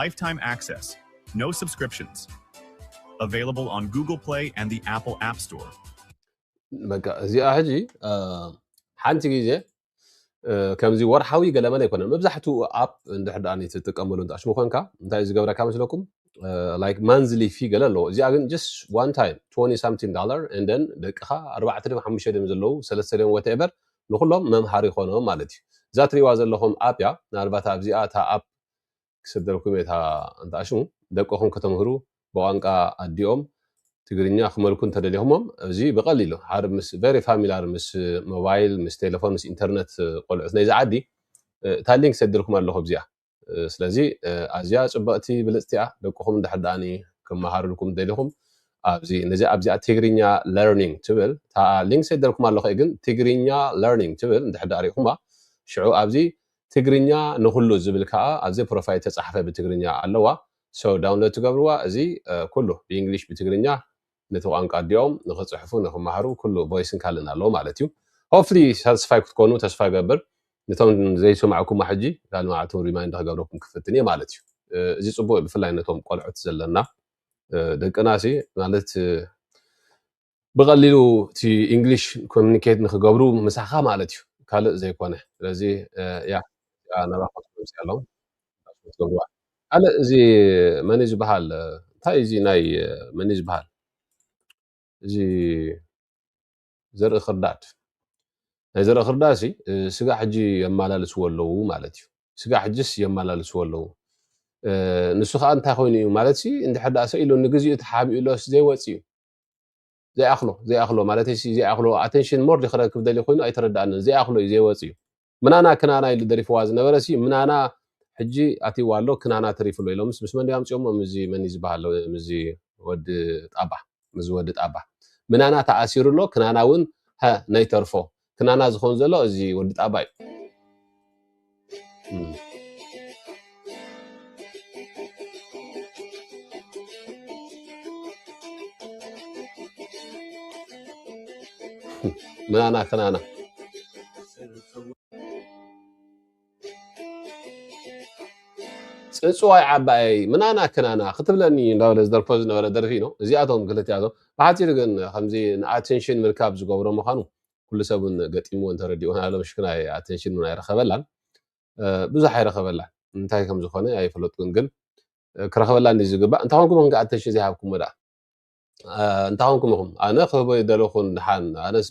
Lifetime access, no subscriptions. Available on Google Play and the Apple App Store. በቃ እዚኣ ሕጂ ሓንቲ ግዜ ከምዚ ወርሓዊ ገለመለ ኣይኮነን መብዛሕትኡ ኣፕ እንድሕር ደኣ ትጥቀመሉ እንተኣሽሙ ኮንካ እንታይ ዝገብረካ መስለኩም ላይክ ማንዝሊ ፊ ገለ ኣለዎ እዚኣ ግን ጀስ ዋን ታይም 20 ሳምቲን ዳላር እንደን ደቅኻ ኣርባዕተ ድም ሓሙሽተ ድም ዘለዉ ሰለስተ ድም ወትኤቨር ንኹሎም መምሃሪ ይኾኖም ማለት እዩ። እዛ ትሪእዋ ዘለኹም ኣፕ እያ ምናልባት ኣብዚኣ እታ ኣፕ ክሰደልኩም እየ እታ እንትኣሽሙ ደቅኹም ከተምህሩ ብቋንቃ ኣዲኦም ትግርኛ ክመልኩ እንተደሊኹሞም እዚ ብቐሊሉ ሓደ ምስ ቨሪ ፋሚላር ምስ ሞባይል ምስ ቴሌፎን ምስ ኢንተርነት ቆልዑት ናይዚ ዓዲ እታ ሊንክ ሰድልኩም ኣለኹ ኣብዚኣ ስለዚ ኣዝያ ጽብቕቲ ብልጽቲ እያ ደቅኹም እንድሕር ደኣኒ ክመሃርልኩም ደሊኹም ኣብዚ ነዚ ኣብዚኣ ትግርኛ ለርኒንግ ትብል እታ ሊንክ ሰደልኩም ኣለኹ ግን ትግርኛ ለርኒንግ ትብል እንድሕር ደኣ ሪኢኹማ ሽዑ ኣብዚ ትግርኛ ንኹሉ ዝብል ከዓ ኣብዚ ፕሮፋይል ተጻሕፈ ብትግርኛ ኣለዋ ሰው ዳውንሎድ ትገብርዋ እዚ ኩሉ ብእንግሊሽ ብትግርኛ ነቲ ቋንቃ ኣዲኦም ንኽጽሕፉ ንኽማሃሩ ኩሉ ቮይስን ካልእን ኣለዎ ማለት እዩ ሆፕፍሊ ሳትስፋይ ክትኮኑ ተስፋ ይገብር ነቶም ዘይሰማዕኩማ ሕጂ ካልእ መዓልቲ ሪማይንድ ክገብረኩም ክፍትን እየ ማለት እዩ እዚ ጽቡቅ እዩ ብፍላይ ነቶም ቆልዑት ዘለና ደቅና ሲ ማለት ብቐሊሉ እቲ ኢንግሊሽ ኮሚኒኬት ንክገብሩ ምሳኻ ማለት እዩ ካልእ ዘይኮነ ስለዚ ያ ናባኹም ኣለዎም ፓስፖርት ገብርዋ ካልእ እዚ መን እዩ ዝበሃል እንታይ እዩ እዚ ናይ መን እዩ ዝበሃል እዚ ዘርኢ ክርዳድ ናይ ዘርኢ ክርዳድ ሲ ስጋ ሕጂ የመላልስዎ ኣለዉ ማለት እዩ ስጋ ሕጅስ የመላልስዎ ኣለዉ እ፣ ንሱ ከዓ እንታይ ኮይኑ እዩ ማለት ሲ እንድሕር ደኣ ሰኢሉ ንግዚኡ ተሓቢኡሎስ ዘይወፅ እዩ ዘይኣኽሎ ዘይኣኽሎ ማለት ሲ ዘይኣኽሎ ኣቴንሽን ሞር ክረክብ ደልዩ ኮይኑ ኣይተረድኣንን ዘይኣኽሎ እዩ ዘይወፅ እዩ ምናና ክናና ኢሉ ደሪፍዋ ዝነበረ ሲ ምናና ሕጂ ኣትይዋ ኣሎ ክናና ተሪፉ ኣሎ ኢሎምስ ምስ መን ዶ ኣምጺኦሞ ምዚ መን እዩ ዝበሃል ምዚ ወዲ ጣባ ምዚ ወዲ ጣባ ምናና ተኣሲሩ ኣሎ ክናና እውን ሃ ነይተርፎ ክናና ዝኾን ዘሎ እዚ ወዲ ጣባ እዩ ምናና ክናና ፅፅዋይ ዓባየይ ምናና ክናና ክትብለኒ እንዳበለ ዝደርፎ ዝነበረ ደርፊ ነው። እዚኣቶም ክልቲኣቶም ብሓፂሩ ግን ከምዚ ንኣቴንሽን ምርካብ ዝገብሮ ምዃኑ ኩሉ ሰብን ገጢምዎ እንተረዲኡን ኣሎ ምሽክና ኣቴንሽን እውን ኣይረኸበላን ብዙሕ ኣይረኸበላን እንታይ ከም ዝኾነ ኣይፈለጥኩን ግን ክረኸበላ እንዲ ዝግባእ እንታይ ኮንኩም ኢኹም ኣተንሽን ዘይሃብኩሞ ደኣ እንታይ ኮንኩም ኢኹም ኣነ ክህቦ ይደለኹ ድሓን ኣነስ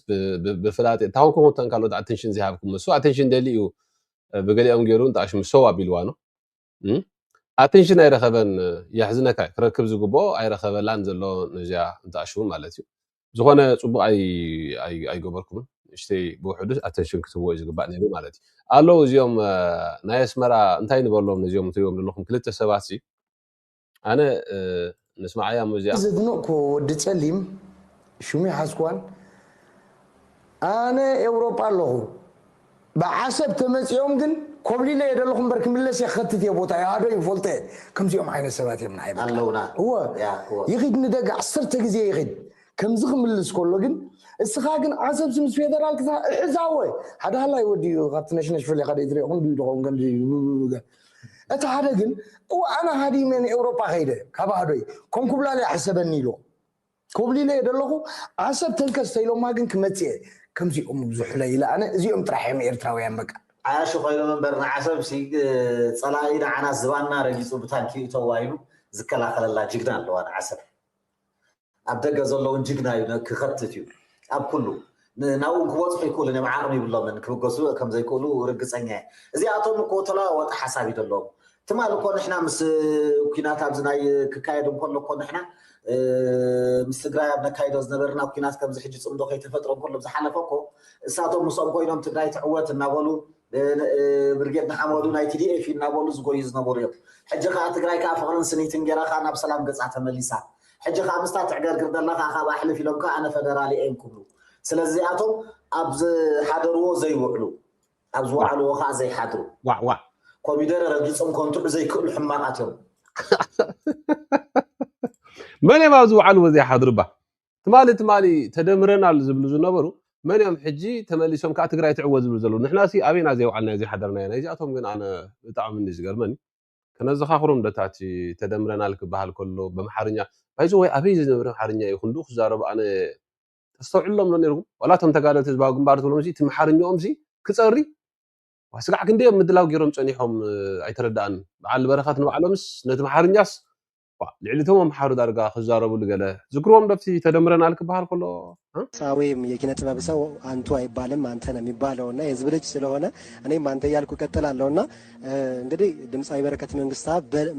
ብፍላጥ እንታይ ኮንኩም ኢኹም እተን ካልኦት ኣተንሽን ዘይሃብኩሞ እሱ ኣተንሽን ደሊ እዩ ብገሊኦም ገይሩ እንጣሽ ምሰው ኣቢልዋ ነው ኣተንሽን ኣይረኸበን የሕዝነካ ክረክብ ዝግብኦ ኣይረኸበላን ዘሎ ነዚኣ እንጣሽው ማለት እዩ ዝኾነ ጽቡቕ ኣይገበርኩምን ንእሽተይ ብውሕዱ ኣተንሽን ክትህቦ እዩ ዝግባእ ነይሩ ማለት እዩ ኣለዉ እዚኦም ናይ ኣስመራ እንታይ ንበሎም ነዚኦም ትሪኦም ዘለኹም ክልተ ሰባት ሲ ኣነ ንስማዓያ እሞ እዚኣ ዘድንቕኩ ወዲ ጸሊም ሹሚ ሓስኳን ኣነ ኤውሮጳ ኣለኹ ብዓሰብ ተመጺኦም ግን ኮብሊለ እየ ደለኹ እምበር ክምለስ እየ ክኸትት እየ ቦታ ይሃዶ ይፈልጦ እየ ከምዚኦም ዓይነት ሰባት እዮም ንዓይ በቃ ኣለውና እወ ያ እወ ይኺድ ንደገ ዓሰርተ ግዜ ይኺድ ከምዚ ክምልስ ከሎ ግን እስኻ ግን ዓሰብሲ ምስ ፌደራል ክሳ እሕዛወ ሓደ ሃላይ ወዲ እዩ ካብቲ ነሽነሽ ፈሊኻ ደይትሪኦ ክንድዩ ድኸውን ከምዚ ብብብብገ እቲ ሓደ ግን እወ ኣነ ሃዲመ ንኤውሮጳ ከይደ ካብ ኣህዶይ ኮንኩብላል ይሕሰበኒ ኢልዎ ኮብሊለ እየ ደለኹ ዓሰብ ተንከስ ተኢሎማ ግን ክመጽእ እየ ከምዚኦም ዝሑለ ኢለ ኣነ እዚኦም ጥራሕ እዮም ኤርትራውያን በቃ። ዓያሹ ኮይኖም እምበር ንዓሰብ ሲ ጸላኢ ንዓናስ ዝባንና ረጊጹ ብታንኪ ይእተዋ ኢሉ ዝከላኸለላ ጅግና ኣለዋ ንዓሰብ ኣብ ደገ ዘሎ ውን ጅግና እዩ ክኸትት እዩ ኣብ ኩሉ ናብኡ ክበጽሑ ኣይክእሉን እዮም፣ ዓቕሚ ይብሎምን፣ ክብገሱ ከም ዘይክእሉ ርግጸኛ እየ። እዚኣቶም እኮ ተለዋዋጢ ሓሳብ እዩ ዘለዎም። ትማል እኮ ንሕና ምስ ኩናት ኣብዚ ናይ ክካየድ እንከሎ እኮ ንሕና ምስ ትግራይ ኣብ ነካይዶ ዝነበርና ኩናት ከምዚ ሕጂ ጽምዶ ከይተፈጥረ እንከሎ ብዝሓለፈ እኮ እሳቶም ምስኦም ኮይኖም ትግራይ ትዕወት እናበሉ ብርጌድ ንሓመዱ ናይ ቲዲኤፍ እዩ እናበሉ ዝጎዩ ዝነበሩ እዮም። ሕጂ ከኣ ትግራይ ከኣ ፍቕርን ስኒትን ጌራ ከኣ ናብ ሰላም ገጻ ተመሊሳ። ሕጂ ከኣ ምስታ ትዕገርግር ዘላ ከኣ ካብኣ ሕልፍ ኢሎም ከኣ ኣነ ፈደራል እየ እንክብሉ ስለዚ እዚኣቶም ኣብ ዝሓደርዎ ዘይውዕሉ ኣብ ዝወዓልዎ ከኣ ዘይሓድሩ ዋዕ ዋዕ ኮሚደረ ረጊጾም ከንትዑ ዘይክእሉ ሕማቓት እዮም። መን እዮም ኣብ ዝወዓልዎ ዘይሓድሩ እባ? ትማሊ ትማሊ ተደምረናል ዝብሉ ዝነበሩ መን እዮም ሕጂ ተመሊሶም ከዓ ትግራይ ትዕወት ዝብሉ ዘለዉ ንሕናሲ ኣበይና ዘይውዓልናዮ ዘይሓደርናዮ ናይዚኣቶም ግን ኣነ ብጣዕሚ እንዲ ዝገርመኒ ከነዘኻኽሮም ደታቲ ተደምረናል ክበሃል ከሎ በምሓርኛ ባይዞ ወይ ኣበይ ዝነብረ ኣምሓርኛ እዩ ክንዱ ክዛረቡ ኣነ ተስተውዕሎም ዶ ነርኩም ዋላ እቶም ተጋደልቲ ህዝባዊ ግንባር ትብሎም ሲ እቲ ምሓርኛኦም ሲ ክፀሪ ስጋዕ ክንደዮም ምድላው ገይሮም ፀኒሖም ኣይተረዳኣኒ በዓል በረኸት ንባዕሎምስ ነቲ ምሓርኛስ ባእ ልዕሊ እቶም ኣምሓሩ ዳርጋ ክዛረብሉ ገለ ዝክርዎም ዶ ኣብቲ ተደምረናል ክበሃል ከሎ እ። ጻዌም የኪነ ጥበብ ሰው ኣንቱ ኣይባልም ኣንተ ነው የሚባለው እና የህዝብ ልጅ ስለሆነ እኔም አንተ እያልኩ እቀጥላለሁ እና እንግዲህ ድምፃዊ በረከት መንግስታ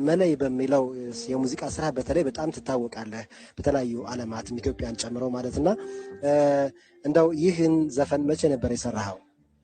መለይ በሚለው የሙዚቃ ስራ በተለይ በጣም ትታወቃለህ በተለያዩ አለማትም ኢትዮጵያን ጨምሮ ማለት እና እንደው ይህን ዘፈን መቼ ነበር የሰራኸው?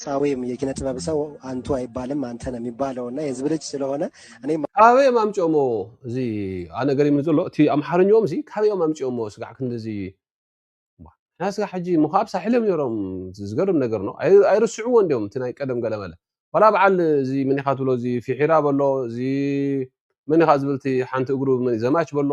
ሳዌም የኪነ ጥበብ ሰው አንቱ አይባልም አንተ ነው የሚባለው እና የህዝብ ልጅ ስለሆነ እኔ ካበዮም ኣምጪኦሞ እዚ ኣነ ገሪምኒ ዘሎ እቲ ኣምሓርኛኦም እዚ ካበዮም ኣምጪኦሞ ስጋዕ ክንዲዚ እባ ንሕና ስጋ ሕጂ እሞ ከዓ ኣብ ሳሕል እዮም ነይሮም ዝገርም ነገር ነው ኣይ- ኣይርስዕዎ እንዲዮም እቲ ናይ ቀደም ገለመለ ዋላ በዓል እዚ መን ኢኻ ትብሎ እዚ ፊሒራ በሎ እዚ መን ኢኻ ዝብል እቲ ሓንቲ እግሩ መን- ዘማች በሎ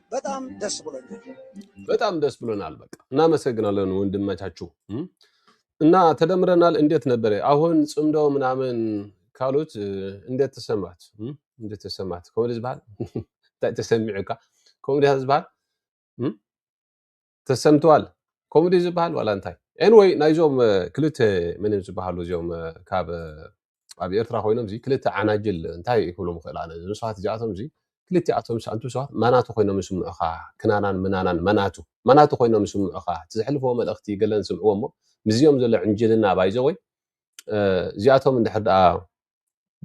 በጣም ደስ ብሎኛል። በጣም ደስ ብሎናል። በቃ እናመሰግናለን ወንድመቻችሁ እም። እና ተደምረናል። እንዴት ነበረ አሁን ጽምዶ ምናምን ካሉት እ፣ እንዴት ተሰማት? እም? እንዴት ተሰማት? ኮሜዲ ዝበሃል እንታይ ተሰሚዑካ? ኮሜዲ ዝበሃል እም? ተሰምተዋል ከምኡ ድዩ ዝበሃል ዋላ እንታይ ኤንወይ ናይዞም እ፣ ክልተ ምን እዮም ዝበሃሉ እዚኦም እ፣ ካብ እ፣ ኣብ ኤርትራ ኮይኖም እዚ ክልተ ዓናጅል እንታይ ክብሎም ይኽእል ኣነ እዞም ሰባት እዚኣቶም እዚ ክልቲኣቶም ስ- ኣንቱ ሰባት መናቱ ኮይኖም ይስምዑኻ ክናናን ምናናን መናቱ መናቱ ኮይኖም ይስምዑኻ እቲ ዘሕልፈዎ መልእኽቲ ገለን ስምዕዎ እሞ ምስዚኦም ዘሎ ዕንጅልና ባይዘወይ እዚኣቶም እንድሕር ደኣ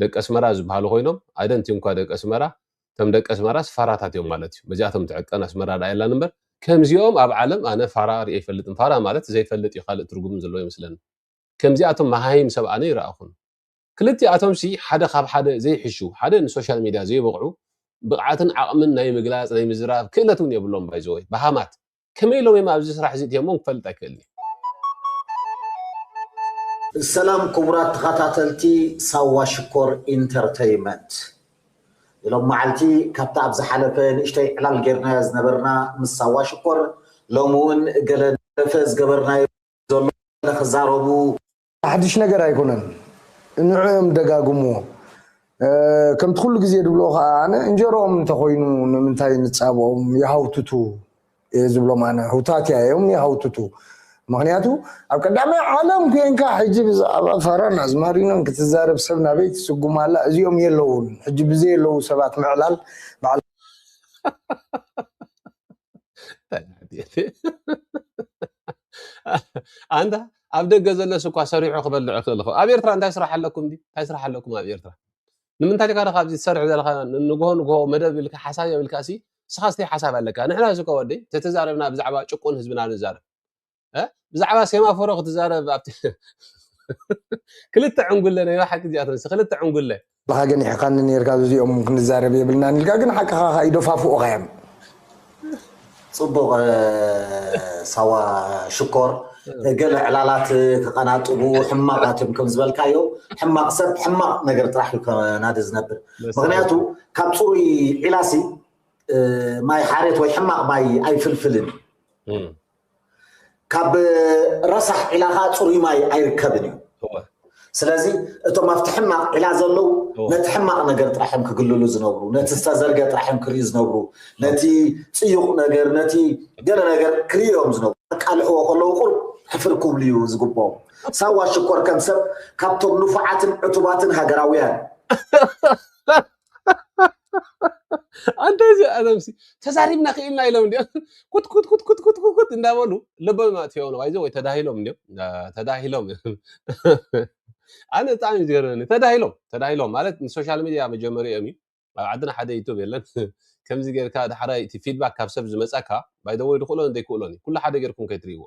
ደቂ ኣስመራ ዝበሃሉ ኮይኖም ኣደንቲ እንኳ ደቂ ኣስመራ እቶም ደቂ ኣስመራስ ፋራታት እዮም ማለት እዩ በዚኣቶም ትዕቀን ኣስመራ ዳኣ የላን እምበር ከምዚኦም ኣብ ዓለም ኣነ ፋራ ሪኤ ይፈልጥን ፋራ ማለት ዘይፈልጥ እዩ ካልእ ትርጉም ዘለዎ ይመስለኒ ከምዚኣቶም መሃይም ሰብ ኣነ ይረኣኹን ክልቲኣቶምሲ ሓደ ካብ ሓደ ዘይሕሹ ሓደ ንሶሻል ሚድያ ዘይበቕዑ ብቕዓትን ዓቕምን ናይ ምግላጽ ናይ ምዝራብ ክእለት እውን የብሎም ባይዘወይ በሃማት ከመይ ኢሎም እዮም ኣብዚ ስራሕ እዚ እትዮሞም ክፈልጥ ኣይክእልን እየ። ሰላም ክቡራት ተኸታተልቲ ሳዋ ሽኮር ኢንተርተይመንት ሎም መዓልቲ ካብታ ኣብ ዝሓለፈ ንእሽተይ ዕላል ጌርናያ ዝነበርና ምስ ሳዋ ሽኮር ሎም እውን ገለ ደፈ ዝገበርናዮ ዘሎ ክዛረቡ ሓድሽ ነገር ኣይኮነን ንዑ እዮም ደጋግምዎ ከምቲ ኩሉ ግዜ ድብሎ ከዓ ኣነ እንጀሮኦም እንተኮይኑ ንምንታይ ንፃብኦም ይሃውትቱ እየ ዝብሎም ኣነ ህውታትያ እዮም ይሃውትቱ ምክንያቱ ኣብ ቀዳማይ ዓለም ኮንካ ሕጂ ብዛዕባ ፋራን ኣዝማሪኖን ክትዛረብ ሰብ ናበይ ትስጉም ኣላ እዚኦም የለውን ሕጂ ብዘየለዉ ሰባት ምዕላል በዓል ኣንታ ኣብ ደገ ዘለስ እኳ ሰሪሑ ክበልዕ ይኽእል ይኸውን። ኣብ ኤርትራ እንታይ ስራሕ ኣለኩም ድዩ? እንታይ ስራሕ ኣለኩም ኣብ ኤርትራ? ንምንታይ ኢልካ ድኻ ኣብዚ ትሰርሕ ዘለካ ንግሆ ንግሆ መደብ ኢልካ ሓሳብ ዮም ኢልካ ሲ ንስኻ ስተይ ሓሳብ ኣለካ ንሕና እዚ እኮ ወደይ ተተዛረብና ብዛዕባ ጭቁን ህዝብና ንዛረብ እ? ብዛዕባ ሴማፎሮ ክትዛረብ ኣብቲ ክልተ ዕንጉለ ናይ ባሓቂ እዚኣተን ክልተ ዕንጉለ ንኻ ገኒሕኻኒ ኔርካ ዝዚኦም ውን ክንዛረብ የብልናን ኢልካ ግን ሓቅኻ ከኣ ይደፋፍኡኻዮም ጽቡቕ ሳዋ ሽኮር ገለ ዕላላት ክቐናጥቡ ሕማቓትም ከም ዝበልካዮ ሕማቕ ሰብ ሕማቕ ነገር ጥራሕ እዩ ከናዲ ዝነብር ምክንያቱ ካብ ፅሩይ ዒላሲ ማይ ሓሬት ወይ ሕማቕ ማይ ኣይፍልፍልን እዩ ካብ ረሳሕ ዒላ ከዓ ፅሩይ ማይ ኣይርከብን እዩ ስለዚ እቶም ኣብቲ ሕማቕ ዒላ ዘለዉ ነቲ ሕማቕ ነገር ጥራሕ እዮም ክግልሉ ዝነብሩ ነቲ ዝተዘርገ ጥራሕ እዮም ክርእዩ ዝነብሩ ነቲ ፅዩቕ ነገር ነቲ ገለ ነገር ክርእዩ እዮም ዝነብሩ ኣቃልሕዎ ከለዉ ቁርብ ሕፍር ክብሉ እዩ ዝግብኦም ሳዋ ሽኮር ከም ሰብ ካብቶም ንፉዓትን ዕቱባትን ሃገራውያን ኣንተ እዚኣቶምሲ ተዛሪብና ክኢልና ኢሎም እንዲኦም ኩትኩትኩትኩትኩት እንዳበሉ ልቦም ኣጥፊኦም ባይዘ ወይ ተዳሂሎም እንዲኦም ተዳሂሎም ኣነ ብጣዕሚ እዩ ዝገርመኒ ተዳሂሎም ተዳሂሎም ማለት ንሶሻል ሚድያ መጀመሪኦም እዩ ኣብ ዓድና ሓደ ዩቱብ የለን ከምዚ ጌርካ ዳሕራይ እቲ ፊድባክ ካብ ሰብ ዝመፀካ ባይደወይ ድክእሎን ዘይክእሎን እዩ ኩሉ ሓደ ጌርኩም ከይትሪእዎ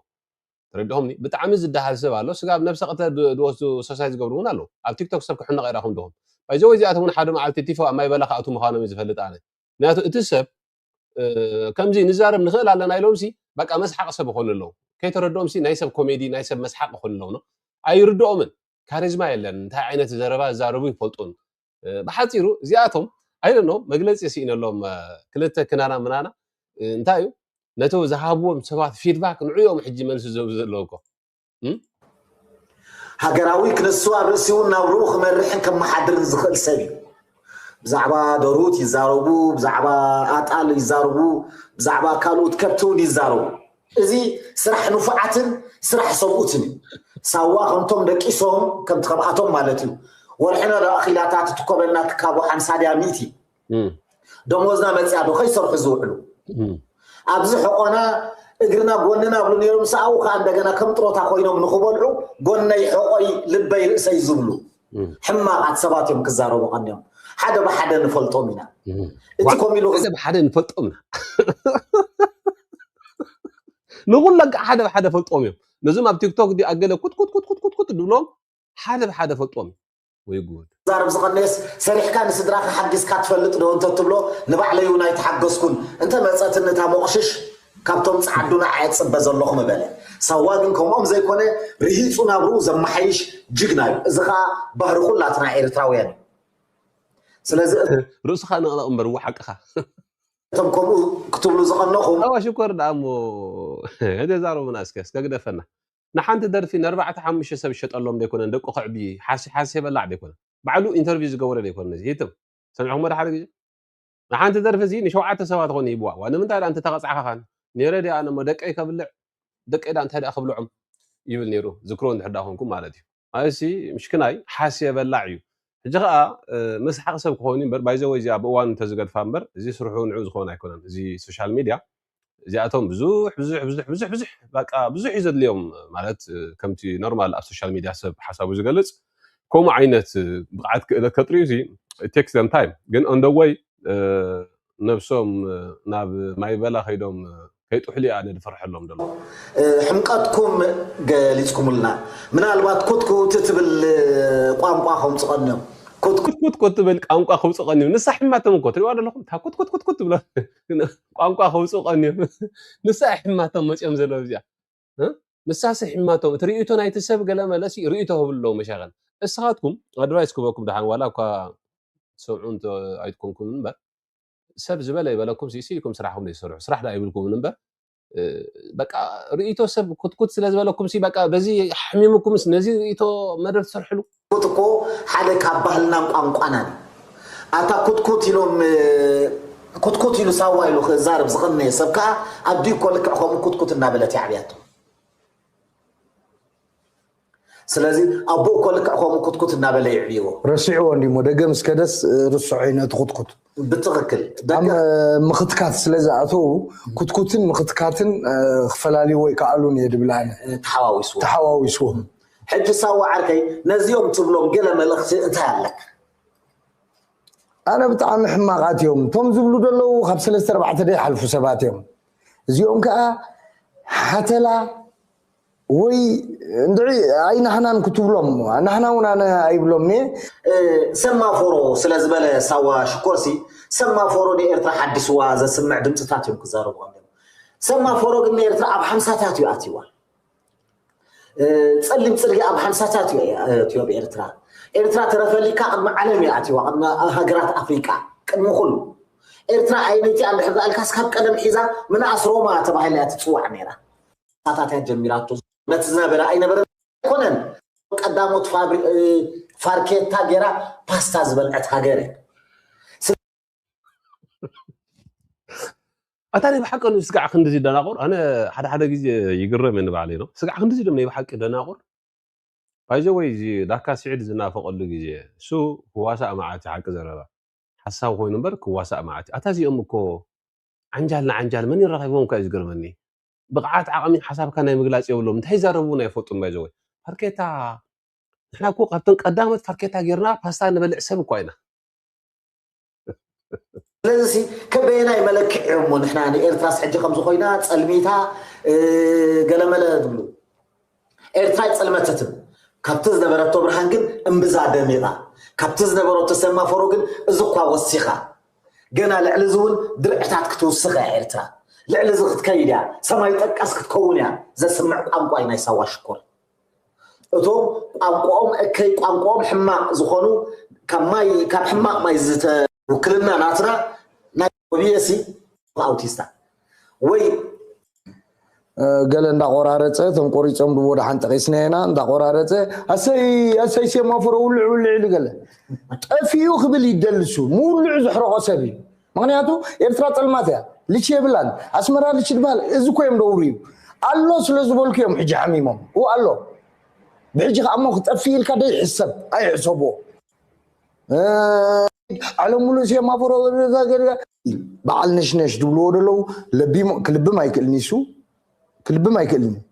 ተረዲኹምኒ ብጣዕሚ ዝደሃል ሰብ ኣሎ ስጋብ ነብሰ ቅትለት ብ- ዝወስዱ ሰሳይት ዝገብሩ እውን ኣለዉ ኣብ ቲክቶክ ሰብ ክሕነቕ ኢራኹም ዲኹም ባይዘወይ እዚኣቶም እውን ሓደ መዓልቲ ቲፎ ኣብ ማይ በላ ክኣትዉ ምዃኖም እዩ ዝፈልጥ ኣነ ምክንያቱ እቲ ሰብ እ፣ ከምዚ ንዛረብ ንኽእል ኣለና ኢሎምሲ በቃ መስሓቂ ሰብ ይኾኑ ኣለዉ ከይተረድኦምሲ ናይ ሰብ ኮሜዲ ናይ ሰብ መስሓቂ ይኾኑ ኣለዉ ኖ ኣይርድኦምን ካሪዝማ የለን እንታይ ዓይነት ዘረባ ዝዛረቡ ይፈልጡን ብሓፂሩ እዚኣቶም ኣይደኖ መግለፂ ስኢነሎም ክልተ ክናና ምናና እንታይ እዩ ነቶ ዝሃብዎም ሰባት ፊድባክ ንዕኦም ሕጂ መልሲ ዘብ ዘለውኮ ሃገራዊ ክነሱ ኣብ ርእሲ እውን ናብርኡ ክመርሕን ከመሓድርን ዝኽእል ሰብ እዩ ብዛዕባ ደሩት ይዛረቡ ብዛዕባ ኣጣል ይዛረቡ ብዛዕባ ካልኦት ከብቲ እውን ይዛረቡ እዚ ስራሕ ንፉዓትን ስራሕ ሰብኡትን እዩ። ሳዋ ከምቶም ደቂሶም ከምቲ ከምኣቶም ማለት እዩ ወርሕና ዶ ኣኺላታ ትትኮበልና ትካቦ ሓምሳ ድያ ሚእቲ ደሞዝና መፅያ ዶ ከይሰርሑ ዝውዕሉ ኣብዚ ሕቆና እግርና ጎንና ብሉ ነይሮም ሰኣው ከዓ እንደገና ከም ጥሮታ ኮይኖም ንክበልዑ ጎነይ ሕቆይ ልበይ ርእሰይ ዝብሉ ሕማቃት ሰባት እዮም ክዛረቡ ቀንዮም ሓደ ብሓደ ንፈልጦም ኢና እቲ ኮም ኢሉ ሓደ ብሓደ ንፈልጦም ኢና ንኩሎም ከዓ ሓደ ብሓደ ፈልጦም እዮም ነዞም ኣብ ቲክቶክ ዲኣ ገለ ኩትኩትኩትኩትኩት ድብሎም ሓደ ብሓደ ፈልጦም እዩ ወይ ጉድ ዛረብ ዝቀነየስ ሰሪሕካ ንስድራካ ሓጊዝካ ትፈልጥ ዶ እንተትብሎ ንባዕለይ እውን ኣይተሓገዝኩን እንተመፀትኒ እታ ሞቅሽሽ ካብቶም ጸዓዱ ንዓይ እጽበ ዘለኹ ምበለ። ሳዋ ግን ከምኦም ዘይኮነ ርሂጹ ናብርኡ ዘማሓይሽ ጅግና እዩ። እዚ ከኣ ባህሪ ኩላትና ኤርትራውያን እዩ። ስለዚ እቶም። ርእስኻ ነቕነቕ እምበር እወ ሓቅኻ። እቶም ከምኡ ክትብሉ ዝቐነኹም። እወ ሽኮር ደኣ እሞ እደ ዛረቡና እስከ እስከ ግደፈና ንሓንቲ ደርፊ ነርባዕተ ሓሙሽተ ሰብ ይሸጠሎም ደይኮነን ደቁ ከዕቢ ሓሲሓሲ በላዕ ደይኮነን ባዕሉ ኢንተርቪው ዝገበሮ ደይኮነን ነዚ ይትም ሰሚዕኩሞ ዶ ሓደ ግዜ ንሓንቲ ደርፊ እዚ ንሸውዓተ ሰባት ኾን ይህብዋ እዋ ንምንታይ ድኣ እንተተቐጻዕካ ኻን ኔረ ድኣ ኣነ እሞ ደቀይ ከብልዕ ደቀይ ድኣ እንታይ ድኣ ክብልዖም ይብል ኔሩ ዝክሮ እንድሕር ድኣ ኾንኩም ማለት እዩ ኣየሲ ምሽክናይ ሓስየ በላዕ እዩ ሕጂ ኸኣ መስሓቂ ሰብ ክኾን እዩ እምበር ባይዘወይ እዚኣ ብእዋኑ እንተዝገድፋ እምበር እዚ ስርሑ ንዑ ዝኸውን ኣይኮነን እዚ ሶሻል ሚድያ እዚኣቶም ብዙሕ ብዙሕ ብዙሕ ብዙሕ ብዙሕ በቃ ብዙሕ እዩ ዘድልዮም ማለት ከምቲ ኖርማል ኣብ ሶሻል ሚድያ ሰብ ሓሳቡ ዝገልጽ ከምኡ ዓይነት ብቕዓት ክእለት ከጥርዩ እዚ ቴክስ ዘም ታይም ግን ኦንደወይ ነብሶም ናብ ማይበላ ከይዶም ከይጥሕሉ እያ ኣነ ድፈርሐሎም ደሎ ሕምቀትኩም ገሊጽኩምልና ምናልባት ኩትኩት ትብል ቋንቋ ከምጽእ ቀንዮም ኩትኩት ኩትኩት ትብል ቋንቋ ከምጽእ ቀንዮም ንሳ ሕማቶም እኮ ትሪእዋ ደለኹም እታ ኩትኩት ኩትኩት ትብሎ ቋንቋ ከውጽኡ ቀንዮም ንሳ እያ ሕማቶም መጽዮም ዘለዉ እዚኣ እ ንሳስ እያ ሕማቶም እቲ ርእይቶ ናይቲ ሰብ ገለ መለሲ ርእይቶ ክብሉ ኣለዎ መሻኸል እስኻትኩም ኣድቫይስ ክበኩም ደሓን ዋላ እኳ ትሰምዑ እንተ ኣይትኮንኩም እምበር ሰብ ዝበለ ይበለኩም ሲሲ ኢኩም ስራሕኩም ዘይሰርሑ ስራሕ ዳ ይብልኩምን እምበር በቃ ርእይቶ ሰብ ኩትኩት ስለ ዝበለኩም ሲ በቃ በዚ ሓሚሙኩምስ ነዚ ርእይቶ መደብ ትሰርሕሉ ኩትኩት እኮ ሓደ ካብ ባህልናን ቋንቋናን እዩ። ኣታ ኩትኩት ኢሎም ኩትኩት ኢሉ ሳዋ ኢሉ ክዛረብ ዝቐነየ ሰብ ከዓ ኣዲኡ እኮ ልክዕ ከምኡ ኩትኩት እናበለት የዕብያቶ። ስለዚ ኣቦኡ እኮ ልክዕ ከምኡ ኩትኩት እናበለ የዕብይዎ። ረሲዕዎ እንዲሞ ደገም እስከ ደስ ርስዖ እዩ ነቲ ኩትኩት ብትኽክል ኣብ ደገ ምኽትካት ስለ ዝኣተው ኩትኩትን ምኽትካትን ክፈላልይዎ ይከኣሉን እየ ድብል ኣነ ተሓዋዊስዎ ተሓዋዊስዎም ሕጂ ሳዋ ዓርከይ ነዚኦም ትብሎም ገለ መልእኽቲ እንታይ ኣለካ? ኣነ ብጣዕሚ ሕማቃት እዮም እቶም ዝብሉ ደለዉ ካብ ሰለስተ ኣርባዕተ ደይሓልፉ ሰባት እዮም እዚኦም ከዓ ሓተላ ወይ እንድዒ ኣይናሕናን ክትብሎም ናሕና እውን ኣነ ኣይብሎም እየ ሰማፎሮ ስለ ዝበለ ሳዋ ሽኮርሲ ሰማፎሮ ንኤርትራ ሓዲስዋ ዘስምዕ ድምፅታት እዮም ክዛረቡ ኣለዉ ሰማፎሮ ግን ንኤርትራ ኣብ ሓምሳታት እዩ ኣትዋ ጸሊም ጽርጊ ኣብ ሃምሳታት እዩ ኣትዮ ኣብ ኤርትራ ኤርትራ ተረፈሊካ ቅድሚ ዓለም እዩ ኣትዋ ቅድሚ ሃገራት ኣፍሪቃ ቅድሚ ኩሉ ኤርትራ ኣይነቲ ኣንድሕር ዳኣልካስ ካብ ቀደም ሒዛ ምንኣስ ሮማ ተባሂላ እያ ትጽዋዕ ነይራ ሳታት እያ ጀሚራቶ ነቲ ዝነበረ ኣይነበረ ኣይኮነን ቀዳሞት ፋርኬታ ገይራ ፓስታ ዝበልዐት ሃገር እያ ኣታ ናይ ብሓቂ ስጋዕ ክንዲዚ ደናቑር ኣነ ሓደ ሓደ ግዜ ይግረም እየ ንባዕለይ ነው ስጋዕ ክንዲዚ ዶም ናይ ብሓቂ ደናቑር ባይዘ ወይ እዚ ዳካ ስዒድ ዝናፈቐሉ ግዜ እሱ ክዋሳእ መዓት ሓቂ ዘረባ ሓሳብ ኮይኑ እምበር ክዋሳእ መዓት ኣታ እዚኦም እኮ ዓንጃል ንዓንጃል መን ይራኺቦም እኳ እዩ ዝገርመኒ ብቕዓት ዓቕሚ ሓሳብካ ናይ ምግላፅ የብሎም እንታይ ይዛረቡ እውን ኣይፈልጡን ባይዘ ወይ ፋርኬታ ንሕና እኮ ካብተን ቀዳሞት ፋርኬታ ጌርና ፓስታ ንበልዕ ሰብ እኳ ኢና ስለዚ ከበየናይ መለክዕ እዮም እሞ ንሕና ንኤርትራስ ሕጂ ከምዚ ኮይና ጸልሚታ ገለመለ ትብሉ ኤርትራ ይጸልመተትም ካብቲ ዝነበረቶ ብርሃን ግን እምብዛ ደሚቓ ካብቲ ዝነበረቶ ሰማፈሮ ግን እዚ እኳ ወሲኻ ገና ልዕሊ እዚ እውን ድርዕታት ክትውስኽ እያ ኤርትራ ልዕሊ እዚ ክትከይድ እያ ሰማይ ጠቀስ ክትከውን እያ ዘስምዕ ቋንቋ እዩ ናይ ሳዋ ሽኮር እቶም ቋንቋኦም እከይ ቋንቋኦም ሕማቅ ዝኾኑ ካብ ማይ ካብ ሕማቅ ማይ ዝተ ውክልና ናትና ናይ ኦቢኤሲ ኣውቲስታ ወይ ገለ እንዳቆራረፀ እቶም ቆሪፆም ድቦ ድሓን ጠቂስና ኢና እንዳቆራረፀ ኣሰይ ኣሰይ ሴማፎሮ ውልዕ ውልዕ ኢሉ ገለ ጠፊኡ ክብል ይደልሱ ምውልዑ ዘሕረቆ ሰብ እዩ ምክንያቱ ኤርትራ ጸልማት እያ ልቺ የብላን ኣስመራ ልቺ ድበሃል እዚ እኮ እዮም ደውሩ እዩ ኣሎ ስለ ዝበልኩ እዮም ሕጂ ሓሚሞም ኡ ኣሎ ብሕጂ ከዓ እሞ ክጠፍእ ኢልካ ዶ ይሕሰብ ኣይሕሰብዎ ዓለም ሙሉእ ሴማፎሮ በዓል ነሽነሽ ዝብልዎ ዘለዉ ክልብም ኣይክእልኒሱ ክልብም ኣይክእልን እዩ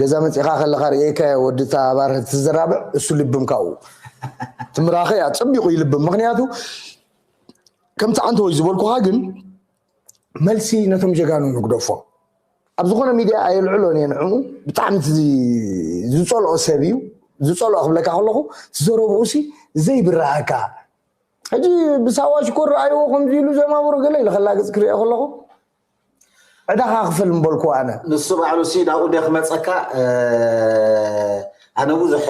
ገዛ መፂእኻ ከለኻ ርእየካዮ ወዲ እታ ኣባር ትዘራብዕ እሱ ልብም ካብኡ እቲ ምራኸ እያ ፀቢቑ ይልብም ምክንያቱ ከምቲ ዓንተወይ ዝበልኩኻ ግን መልሲ ነቶም ጀጋኑ ንግደፎም ኣብ ዝኾነ ሚድያ ኣየልዕሎን እየ ንዕኡ ብጣዕሚ ዝፀልኦ ሰብ እዩ ዝፀልኦ ክብለካ ከለኹ ዘረብኡ ሲ ዘይብረሃካ ሕጂ ብሳዋ ሽኮር ረኣይዎ ከምዚ ኢሉ ዘማብሩ ገለ ኢለ ከላግፅ ክሪኦ ከለኹ ዕዳኻ ክፍል ምበልኩዎ ኣነ። ንሱ ባዕሉሲ ናብኡ ዲዮ ክመጸካ ኣነ ብዙሕ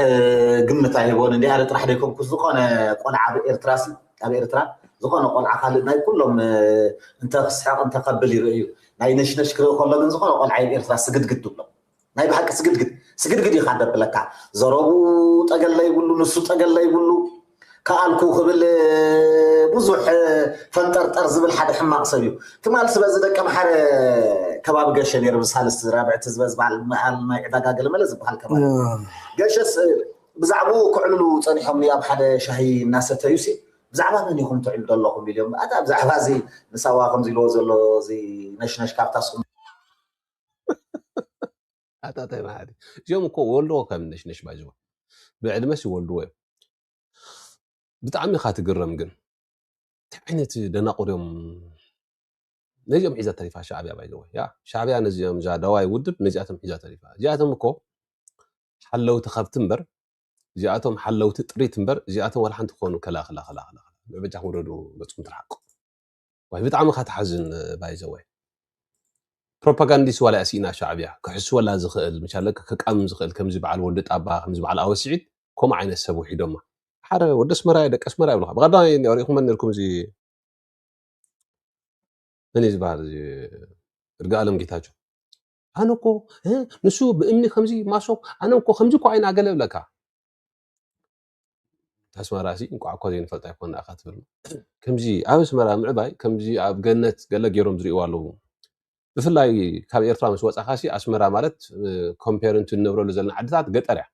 ግምት ኣይህቦን እንዲ ኣነ ጥራሕ ደይኮንኩ ዝኾነ ቆልዓ ኣብ ኤርትራሲ ኣብ ኤርትራ ዝኾነ ቆልዓ ካልእ ናይ ኩሎም እንተ ክስሕቕ እንተ ከብል ይርእዩ ናይ ነሽነሽ ክርኢ ከሎ ግን ዝኾነ ቆልዓ ኣብ ኤርትራ ስግድግድ ትብሎ ናይ ብሓቂ ስግድግድ ስግድግድ ኢኻ ደብለካ ዘረቡ ጠገል ለይብሉ ንሱ ጠገል ለይብሉ ከኣልኩ ክብል ብዙሕ ፈንጠርጠር ዝብል ሓደ ሕማቕ ሰብ እዩ ትማል ስበዚ ደቂ ኣምሓረ ከባቢ ገሸ ነይሩ ብሳልስቲ ራብዕቲ ዝበዝባል መሃል ናይ ዕዳጋ ገለመለ ዝበሃል ከባቢ ገሸስ ብዛዕባኡ ክዕልሉ ፀኒሖም ኣብ ሓደ ሻሂ እናሰተዩ ሲ ብዛዕባ መን ኢኹም ትዕሉ ዘለኹም ኢልዮም ኣታ ብዛዕባ እዚ ንሳዋ ከምዚ ኢልዎ ዘሎ እዚ ነሽነሽ ካብታስኩም ኣታታይ መሃሪ እዚኦም እኮ ወልድዎ ከም ነሽነሽ ባይዝወ ብዕድመስ ይወልድዎ እዮም ብጣዕሚ ኢኻ ትግረም ግን እንታይ ዓይነት ደናቑር እዮም ነዚኦም ሒዛ ተሪፋ ሻዕብያ ባይዘወ ያ ሻዕብያ ነዚኦም እዛ ደዋይ ውድብ ነዚኣቶም ሒዛ ተሪፋ እዚኣቶም እኮ ሓለውቲ ከብቲ እምበር እዚኣቶም ሓለውቲ ጥሪት እምበር እዚኣቶም ዋላ ሓንቲ ክኾኑ ከላኽላ ከላኽላ በጃኹም ረዱ ገፅኩም ትርሓቁ ዋይ ብጣዕሚ እካ ትሓዝን ባይዘወይ ፕሮፓጋንዲስ ዋላ እያ ሲኢና ሻዕብያ ክሕስወላ ዝክእል ምቻለ ክቃምም ዝክእል ከምዚ በዓል ወዲ ጣባ ከምዚ በዓል ኣወስዒድ ከምኡ ዓይነት ሰብ ውሒዶማ ሓደ ወዲ ኣስመራ እየ ደቂ ኣስመራ ይብልካ ብቀዳማይ ሪኢኹመ ነርኩም እዚ መን እዩ ዝበሃል እዚ እርጋኣለም ጌታቸው ኣነ እኮ ንሱ ብእምኒ ከምዚ ማሶብ ኣነ እኮ ከምዚ እኮ ዓይና ገለ ብለካ ኣስመራ ሲ እንቋዕ እኳ ዘይንፈልጣ ኣይኮን ኣኻ ትብል ከምዚ ኣብ ኣስመራ ምዕባይ ከምዚ ኣብ ገነት ገለ ገይሮም ዝርእይዎ ኣለዉ ብፍላይ ካብ ኤርትራ ምስ ወጻኻ ሲ ኣስመራ ማለት ኮምፔርንቱ ንነብረሉ ዘለና ዓድታት ገጠር እያ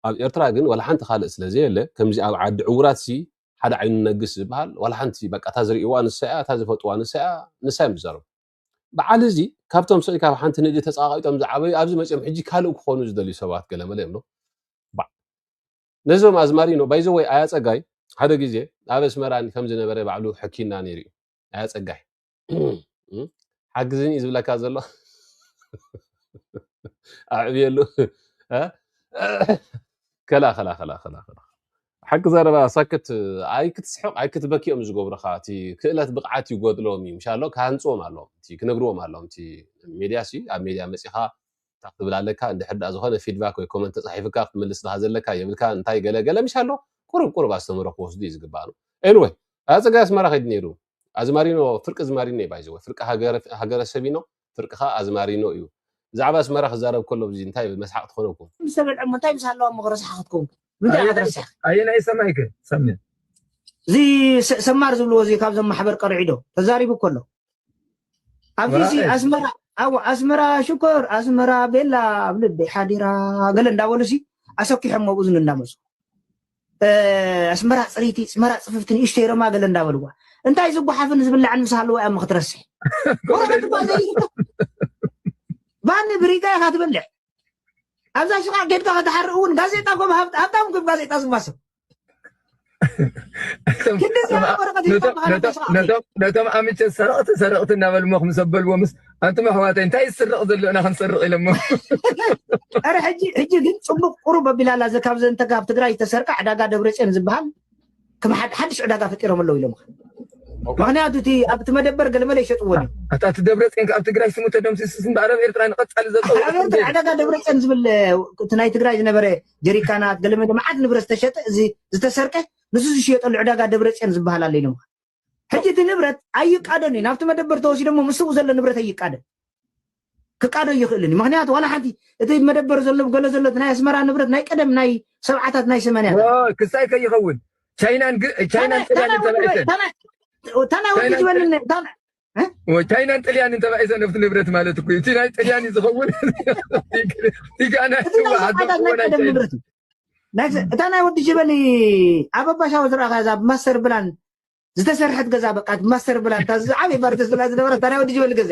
ኣብ ኤርትራ ግን ዋላ ሓንቲ ካልእ ስለ ዘየለ ከምዚ ኣብ ዓዲ ዕውራት ሲ ሓደ ዓይኑ ነግስ ዝበሃል ዋላ ሓንቲ በቃ እታ ዝርእይዋ ንሳ እያ እታ ዝፈልጥዋ ንሳ እያ ንሳ እዮም ዝዛረቡ በዓል እዚ ካብቶም ስዒ ካብ ሓንቲ ንእዲ ተጻቓቂጦም ዝዓበዩ ኣብዚ መጺኦም ሕጂ ካልእ ክኾኑ ዝደልዩ ሰባት ገለመለ እዮም ዶ ነዞም ኣዝማሪኖ ባይዘወይ ኣያ ጸጋይ ሓደ ግዜ ኣብ ኣስመራን ከም ዝነበረ ባዕሉ ሕኪና ነይሩ እዩ ኣያ ጸጋይ ሓግዝን እዩ ዝብለካ ዘሎ ኣዕብየሉ ከላ ከላ ከላ ከላ ሓቂ ዘረባ ሰክት ኣይክትስሕቕ ኣይክትበኪ እዮም ዝገብሩኻ እቲ ክእለት ብቕዓት ይጎድሎም እዩ ምሻሎ ክሃንፅዎም ኣለዎም እቲ ክነግርዎም ኣለዎም እቲ ሜድያ ሲ ኣብ ሜድያ መፂኻ እንታይ ክትብል ኣለካ እንድሕር ድኣ ዝኾነ ፊድባክ ወይ ኮመንት ተፃሒፍካ ክትምልስ ድኻ ዘለካ የብልካ እንታይ ገለ ገለ ምሻሎ ቁሩብ ቁሩብ ኣስተምህሮ ክወስዱ እዩ ዝግባእ ኤንወይ ኣፀጋይ ኣስመራ ከይዱ ነይሩ ኣዝማሪኖ ፍርቂ ዝማሪኖ እዩ ባይዘወ ፍርቂ ሃገረሰብ ኢኖ ፍርቅኻ ኣዝማሪኖ እዩ ብዛዕባ ኣስመራ ክዛረብ ከሎ ብዚ እንታይ መስሓቅ ትኾነኩም። ምስ ተበልዖሞ እንታይ ምስ ሃለዋ እሞ ረሳሓ ክትከውን ከ ምንታይ ኢካ ትረስሕ። ኣየናይ ሰማይ ከ ሰምዕ። እዚ ሰማር ዝብልዎ እዚ ካብዞም ማሕበር ቀርዒ ዶ ተዛሪቡ እኮ ኣሎ ኣብዚ ሲ ኣስመራ ኣዎ ኣስመራ ሽኮር ኣስመራ ቤላ ኣብ ልበይ ሓዲራ ገለ እንዳበሉ ሲ ኣሰኪሖሞ ኣብ እዝኑ እንዳመጹ ኣስመራ ፅሪቲ ፅመራ ፅፍፍቲ ንእሽተይ ሮማ ገለ እንዳበልዋ እንታይ ዝጓሓፍን ዝብላዕን ምስ ሃለዋ እያ ምክትረስሕ ወረቀት እኳ ዘይርከብ ባኒ ብሪጋ ኢኻ ትበልዕ ኣብዛ ሽቃዕ ጌድካ ከተሓርእ እውን ጋዜጣ እኮ ሃብታም እኮ ጋዜጣ ዝዋሰብ ክንዲ ዝያዳ ወረቀት ሂብካ ነቶም ኣምቸ ሰረቕቲ ሰረቕቲ እናበልሞ ክምሰበልዎ ምስ ኣንቱም ኣሕዋተይ እንታይ ዝስረቕ ዘሎ ኢና ክንሰርቕ ኢሎሞ ኧረ ሕጂ ሕጂ ግን ፅቡቅ ቁሩብ ኣቢላ ኣላ እዚ ካብዘ እንተ ካብ ትግራይ ዝተሰርቀ ዕዳጋ ደብረፅዮን ዝበሃል ከም ሓድ- ሓድሽ ዕዳጋ ፈጢሮም ኣለዉ ኢሎምኻ ምክንያቱ እቲ ኣብቲ መደበር ገለመለ ይሸጥዎን እዮም ኣታ እቲ ደብረፅዮን ካብ ትግራይ ስሙ ተደምሲሱስ እምበኣር ኣብ ኤርትራ ንቐፃሊ ዘሎ ኣበርተ ዕዳጋ ደብረፅዮን ዝብል እቲ ናይ ትግራይ ዝነበረ ጀሪካናት ገለመለ መዓት ንብረት ዝተሸጠ እዚ ዝተሰርቀ ንሱ ዝሽየጠሉ ዕዳጋ ደብረፅዮን ዝበሃል ኣሎ ኢሎምኻ ሕጂ እቲ ንብረት ኣይቃደን እዩ ናብቲ መደበር ተወሲዶሞ ምስኡ ዘሎ ንብረት ኣይቃደን ክቃዶ ይኽእልን እዩ ምክንያቱ ዋላ ሓንቲ እቲ መደበር ዘሎ ገለ ዘሎ ናይ ኣስመራ ንብረት ናይ ቀደም ናይ ሰብዓታት ናይ ሰማንያ ክሳይ ከይኸውን ቻይናን ቻይናን ጥልያን ተባኢተን ታና ወዲ ዝበልኒ ቻይናን ጥልያንን ተባኢሰ ነብቲ ንብረት ማለት እኮ እቲ ናይ ጥልያን እዩ ዝኸውን እታ ናይ ወዲ ጀበሊ ኣብ ኣባሻዊ ዝረኣኻ እዛ ብማስተር ብላን ዝተሰርሐት ገዛ በቃ ብማስተር ብላን ዝዓበይ ባርተስ ብላ ዝነበረት እታ ናይ ወዲ ጀበሊ ገዛ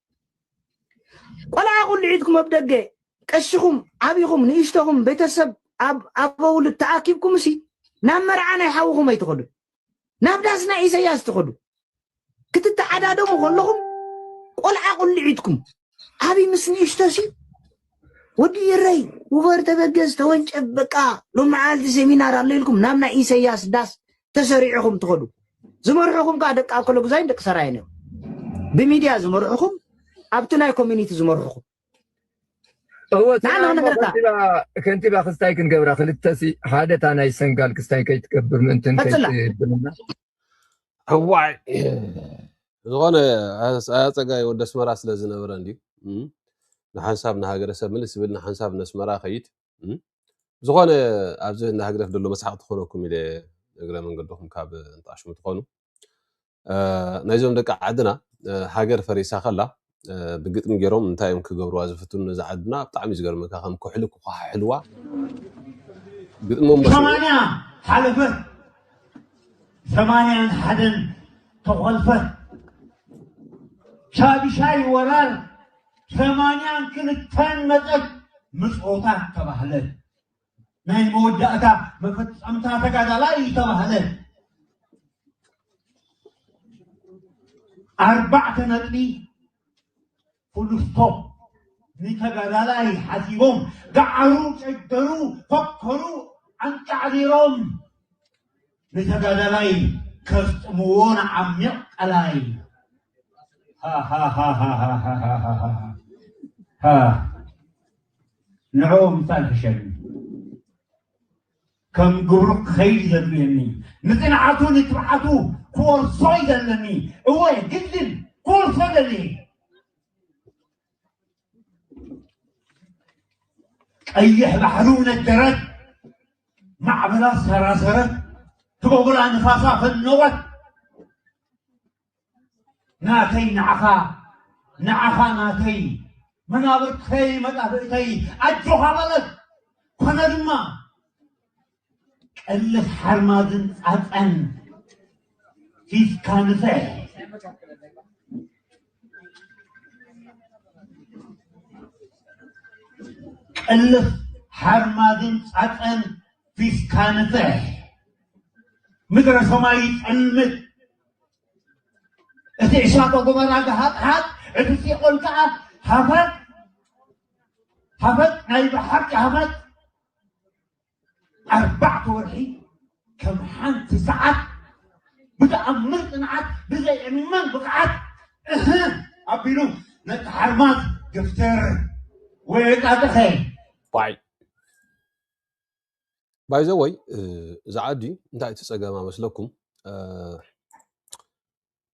ቆልዓ ቁልዒትኩም ኣብ ደገ ቀሽኹም ዓቢኹም ንእሽተኹም ቤተሰብ ኣብ ኣበውልድ ተኣኪብኩም እሲ ናብ መርዓ ናይ ሓውኹም ኣይትኸዱ ናብ ዳስ ናይ ኢሰያስ ትኸዱ ክትተዓዳደሙ ከለኹም ቆልዓ ቁልዒትኩም ዓብይ ምስ ንእሽቶ ሲ ወዲ ኢረይ ውበር ተበገዝ ተወንጨብ በቃ ሎሚ መዓልቲ ሴሚናር ኣሎ ኢልኩም ናብ ናይ ኢሰያስ ዳስ ተሰሪዕኹም ትኸዱ ዝመርሑኹም ከዓ ደቂ ኣኮሎጉዛይን ደቂ ሰራይን እዮም ብሚድያ ዝመርሑኹም ኣብቲ ናይ ኮሚኒቲ ዝመርሑኹም ከንቲባ ክስታይ ክንገብራ ክልተሲ ሓደ እታ ናይ ሰንጋል ክስታይ ከይትገብር ምእንትን ከይትብልና እዋይ ዝኾነ ኣፀጋይ ወደ ኣስመራ ስለ ዝነበረ እንድዩ እም፣ ንሓንሳብ ንሃገረሰብ ምልስ ዝብል ንሓንሳብ ነስመራ ከይድ እም፣ ዝኾነ ኣብዚ ንሃግደፍ ደሎ መስሓቅ ትኾነኩም ኢለ እግረ መንገድኹም ካብ እንጣሽሙ ትኾኑ አ፣ ናይዞም ደቂ ዓድና አ፣ ሃገር ፈሪሳ ከላ ብግጥሚ ገይሮም እንታይ እዮም ክገብርዋ ዝፍትኑ ነዛ ዓድና ብጣዕሚ እዩ ዝገርመካ ከም ኩሕሊ ክኳሓሕልዋ ግጥሚ መሲሉ ሰማንያ ሓለፈት ሰማንያን ሓደን ተኾልፈት ሻድሻይ ወራር ሰማንያን ክልተን መፀት ምፅኦታት ተባህለት ናይ መወዳእታ መፈጸምታ ተጋዳላይ እዩ ተባህለ። ኣርባዕተ ነጥቢ ፉሉስቶፕ ንተጋዳላይ ሓሲቦም ገዓሩ ጨገሩ ፈከሩ ኣንቃዕሪሮም ንተጋዳላይ ከስጥምዎ ንዓሚቕ ቀላይ ሃሃሃሃሃሃሃሃሃ ንዕኦም እንታይ ክሸልም ከም ግብሩ ክኸይድ ዘድልየኒ ንጽንዓቱ ንትብዓቱ ክወርሶ እዩ ዘለኒ እወ ግድን ክወርሶ ደልየ ቀይሕ ባሕሩ ነደረት ማዕበላ ሰራሰረት ትበጉላ ንፋሳ ፈነወት ናተይ ንዓኻ ንዓኻ ናተይ መናብርተይ መጣፍእተይ ኣጆኻ በለት ኮነ ድማ ቀልስ ሓርማዝን ፃፀን ፊትካ ንፍሕ ቀልስ ሓርማዝን ፃፀን ፊትካ ንፍሕ ምድረ ሰማይ ይፀልምት እቲ ዕሳቶ ጎመራ ገሃጥሓጥ እቲ ሲኦል ከዓ ሃፈት ሃፈት ናይ ብሓቂ ሃፈት ኣርባዕተ ወርሒ ከም ሓንቲ ሰዓት ብተኣምር ፅንዓት ብዘይ ዕማን ብቕዓት እህ ኣቢሉ ነቲ ሓርማዝ ግፍትር ወይ ጣጥኸ ዋይ ባይ ዘ ወይ እዚ ዓዲ እንታይ እቲ ፀገማ መስለኩም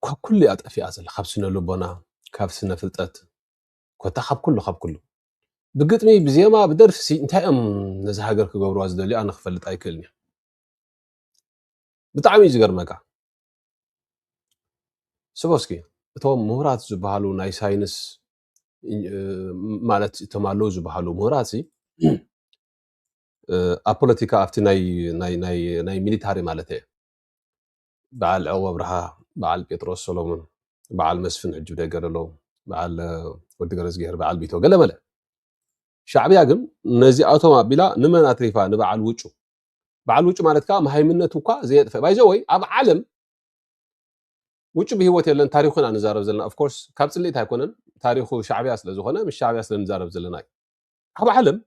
ካብ ኩሉ እያ ጠፊኣ ዘላ ካብ ስነ ልቦና ካብ ስነ ፍልጠት ኮታ ካብ ኩሉ ካብ ኩሉ ብግጥሚ ብዜማ ብደርፊ ሲ እንታይ እዮም ነዚ ሃገር ክገብርዋ ዝደልዩ ኣነ ክፈልጥ ኣይክእልን እየ ብጣዕሚ እዩ ዝገርመካ ስቦስኪ እቶም ምሁራት ዝበሃሉ ናይ ሳይንስ ማለት እቶም ኣለዉ ዝበሃሉ ምሁራት ኣብ ፖለቲካ ኣብቲ ናይ ሚሊታሪ ማለት እየ በዓል ዕቑብ ኣብርሃ፣ በዓል ጴጥሮስ ሰሎሙን፣ በዓል መስፍን ሕጂ ብደገ ደሎ፣ በዓል ወዲ ገረዝግሄር፣ በዓል ቢቶ ገለ መለ። ሻዕብያ ግን ነዚኣቶም ኣቢላ ንመን ኣትሪፋ? ንበዓል ውጩ። በዓል ውጩ ማለት ከዓ መሃይምነቱ እኳ ዘየጥፈ ባይዘ ወይ ኣብ ዓለም ውጩ ብሂወት የለን። ታሪኹ ኢና ንዛረብ ዘለና ኦፍኮርስ ካብ ፅልኢት ኣይኮነን። ታሪኹ ሻዕብያ ስለ ዝኾነ ምስ ሻዕብያ ስለ ንዛረብ ዘለና እዩ። ኣብ ዓለም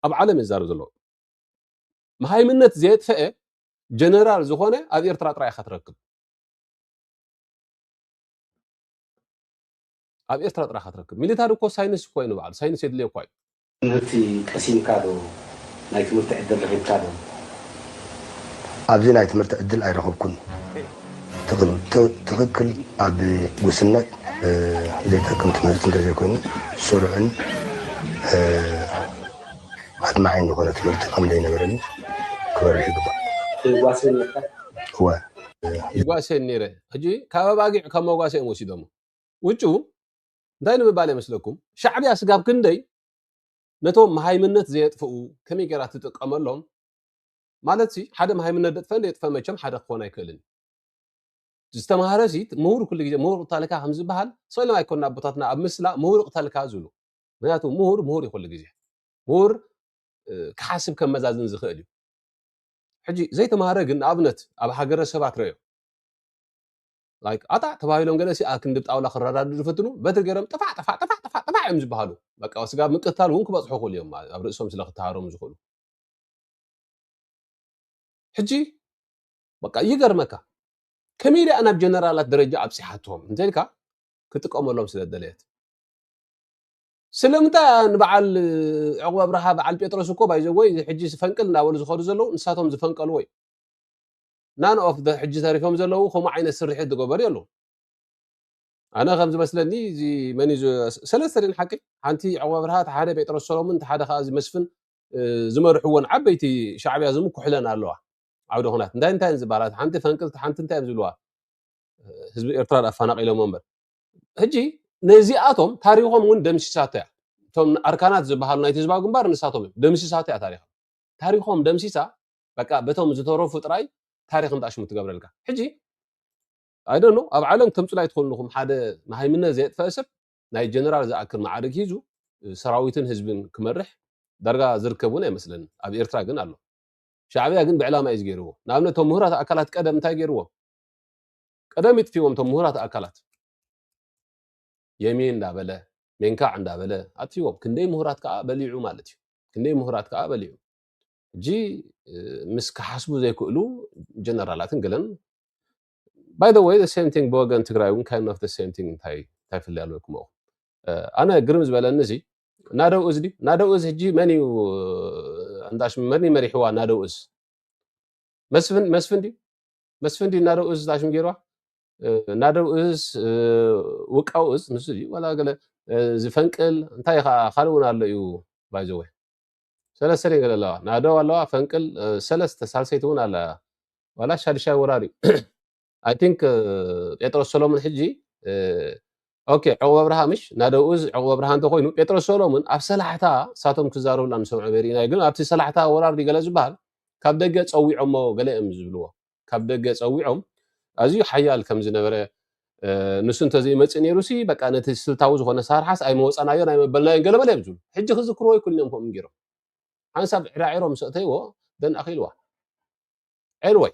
ኣብ ዓለም ዝዛረብ ዘሎ መሃይምነት ዘየጥፈአ ጀነራል ዝኾነ ኣብ ኤርትራ ጥራይ ኢኻ ትረክብ ኣብ ኤርትራ ጥራይ ኢኻ ትረክብ ሚሊታሪ እኮ ሳይንስ እኮ እዩ ንባዕሉ ሳይንስ የድልዮ እኳ እዩ ትምህርቲ ቀሲምካ ዶ ናይ ትምህርቲ ዕድል ረኺብካ ዶ? ኣብዚ ናይ ትምህርቲ ዕድል ኣይረኸብኩን። ትኽክል ኣብ ጉስነት ዘይጠቅም ትምህርቲ እንተዘይኮይኑ ስሩዕን ኣድማዒን ዝኾነ ትምህርቲ ከምዘይነበረኒ ክበርህ ይግባእ። ትጓሰ ኔርካ? እወ። ይጓሰ ኔረ። ሕጂ ካብ ኣባጊዕ ካብ መጓሰ እዮም ወሲዶሞ። ውጩ እንታይ ንምባል ይመስለኩም? ሻዕብያ ስጋብ ክንደይ ነቶም መሃይምነት ዘየጥፍኡ ከመይ ጌራ ትጥቀመሎም ማለትሲ ሓደ መሃይምነት ደጥፈ ደየጥፈ መቸም ሓደ ክኾን ኣይክእልን እዩ። ዝተማህረሲ ምሁር ኩሉ ግዜ ምሁር እቕተልካ ከም ዝበሃል ስእሎም ኣይኮኑን ኣቦታትና ኣብ ምስላ ምሁር እቕተልካ ዝብሉ። ምክንያቱ ምሁር ምሁር እዩ ኩሉ ግዜ። ምሁር ክሓስብ ከመዛዝን ዝኽእል እዩ። ሕጂ ዘይተማህረ ግን ንኣብነት ኣብ ሃገረ ሰባት ረዮ ላይክ ኣጣዕ ተባሂሎም ገለሲ ኣብ ክንዲ ጣውላ ክረዳድኡ ዝፍትኑ በትሪ ገይሮም ጥፋዕ ጥፋዕ ጥፋዕ ጥፋዕ ጥፋዕ እዮም ዝበሃሉ በቃ ስጋብ ምቅታል እውን ክበፅሑ ክእሉ እዮም ኣብ ርእሶም ስለ ክተሃሮም ዝኽእሉ ሕጂ በቃ ይገርመካ ከመይ ኢላ ናብ ጀነራላት ደረጃ ኣብፂሓቶም እንተልካ ክጥቀመሎም ስለ ዝደለየት ስለምንታይ እያ ንበዓል ዕቑብ ኣብርሃ በዓል ጴጥሮስ እኮ ባይዘወይ ሕጂ ፈንቅል እናበሉ ዝኸዱ ዘለዉ ንሳቶም ዝፈንቀልዎ እዩ ናን ኦፍ ሕጂ ተሪፎም ዘለዉ ከምኡ ዓይነት ስርሒት ዝገበሩ የሉ ኣነ ከም ዝመስለኒ እዚ መን እዩ ሰለስተ ደን ሓቂ ሓንቲ ዕቑብ ኣብርሃ እቲ ሓደ ጴጥሮስ ሰሎሙን እቲ ሓደ ከዓ እዚ መስፍን ዝመርሕዎን ዓበይቲ ሻዕብያ ዝምኩሕለን ኣለዋ ዓውደ ኩናት እንታይ እንታይ ዝበሃላ ሓንቲ ፈንቅልቲ ሓንቲ እንታይ እዮም ዝብልዋ ህዝቢ ኤርትራ ኣፈናቂሎሞ እምበር ሕጂ ነዚኣቶም ታሪኾም እውን ደምሲሳቶ እያ እቶም ኣርካናት ዝበሃሉ ናይቲ ህዝባዊ ግንባር ንሳቶም እዮም ደምሲሳቶ እያ ታሪኾም ታሪኾም ደምሲሳ በቃ በቶም ዝተረፉ ጥራይ ታሪክ እንጣሽሙ ትገብረልካ ሕጂ ኣይደኖ ኣብ ዓለም ከምፅላይ ትኾንኹም ሓደ መሃይምነት ዘየጥፈአ ሰብ ናይ ጀነራል ዝኣክል መዓርግ ሂዙ ሰራዊትን ህዝብን ክመርሕ ዳርጋ ዝርከብ እውን ኣይመስለንን። ኣብ ኤርትራ ግን ኣሎ። ሻዕብያ ግን ብዕላማ እዩ ገይርዎ። ንኣብነት እቶም ምሁራት ኣካላት ቀደም እንታይ ገይርዎም? ቀደም ይጥፊዎም እቶም ምሁራት ኣካላት የሚን እንዳበለ ሜንካዕ እንዳበለ ኣጥፊዎም። ክንደይ ምሁራት ከዓ በሊዑ ማለት እዩ። ክንደይ ምሁራት ከዓ በሊዑ። ሕጂ ምስ ክሓስቡ ዘይክእሉ ጀነራላትን ገለን ባይ ዘ ወይ ሴም ቲንግ ብወገን ትግራይ እውን ካይን ኦፍ ሴም ቲንግ እንታይ እንታይ ፍልይ ኣለኩም እኹ ኣነ ግርም ዝበለኒ እዚ ናደው እዝ ድዩ ናደው እዝ ሕጂ መን እዩ እንዳሽ መን እዩ መሪሕዋ ናደው እዝ መስፍን መስፍን ድዩ መስፍን ድዩ ናደው እዝ ዳሽም ገይርዋ ናደው እዝ ውቃው እዝ ንሱ ድዩ ዋላ ገለ ዝፈንቅል እንታይ ከዓ ካልእ እውን ኣሎ እዩ ባይዘወ ሰለስተ ነገር ኣለዋ ናደው ኣለዋ ፈንቅል እ፣ ሰለስተ ሳልሰይቲ እውን ኣላ ዋላ ሻድሻይ ወራር እዩ ኣይ ቲንክ ጴጥሮስ ሰሎሞን ሕጂ እ፣ ኦኬ ዕቑብ ኣብርሃ ምሽ ናደው እዝ ዕቑብ ኣብርሃ እንተኮይኑ ጴጥሮስ ሰሎሞን ኣብ ሰላሕታ እሳቶም ክዛረቡላ ንሰምዖ በሪእና ግን ኣብቲ ሰላሕታ ወራር ድዩ ገለ ዝበሃል ካብ ደገ ፀዊዖሞ ገለ እዮም ዝብልዎ ካብ ደገ ጸዊዖም ኣዝዩ ሓያል ከም ዝነበረ ንሱ እንተዘይመፅእ ነይሩሲ በቃ ነቲ ስልታዊ ዝኾነ ሳርሓስ ኣይመወፃናዮን ኣይመበልናዮን ገለመለ እዮም ዝብሉ ሕጂ ክዝክርዎ ይኩን እዮም ከምኡ ገይሮም ሓንሳብ ዕራዒሮ ምስ ኣእተይዎ ደን ኣኺልዋ ኤንወይ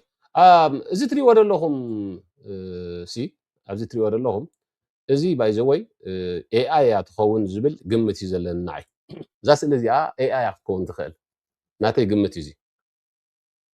እዚ ትሪእዎ ዘለኹም ሲ ኣብዚ ትሪእዎ ዘለኹም እዚ ባይዘወይ ኤኣይ እያ ትኸውን ዝብል ግምት እዩ ዘለኒ ንዓይ እዛ ስእሊ እዚኣ ኤኣይ ክትከውን ትኽእል ናተይ ግምት እዩ እዚ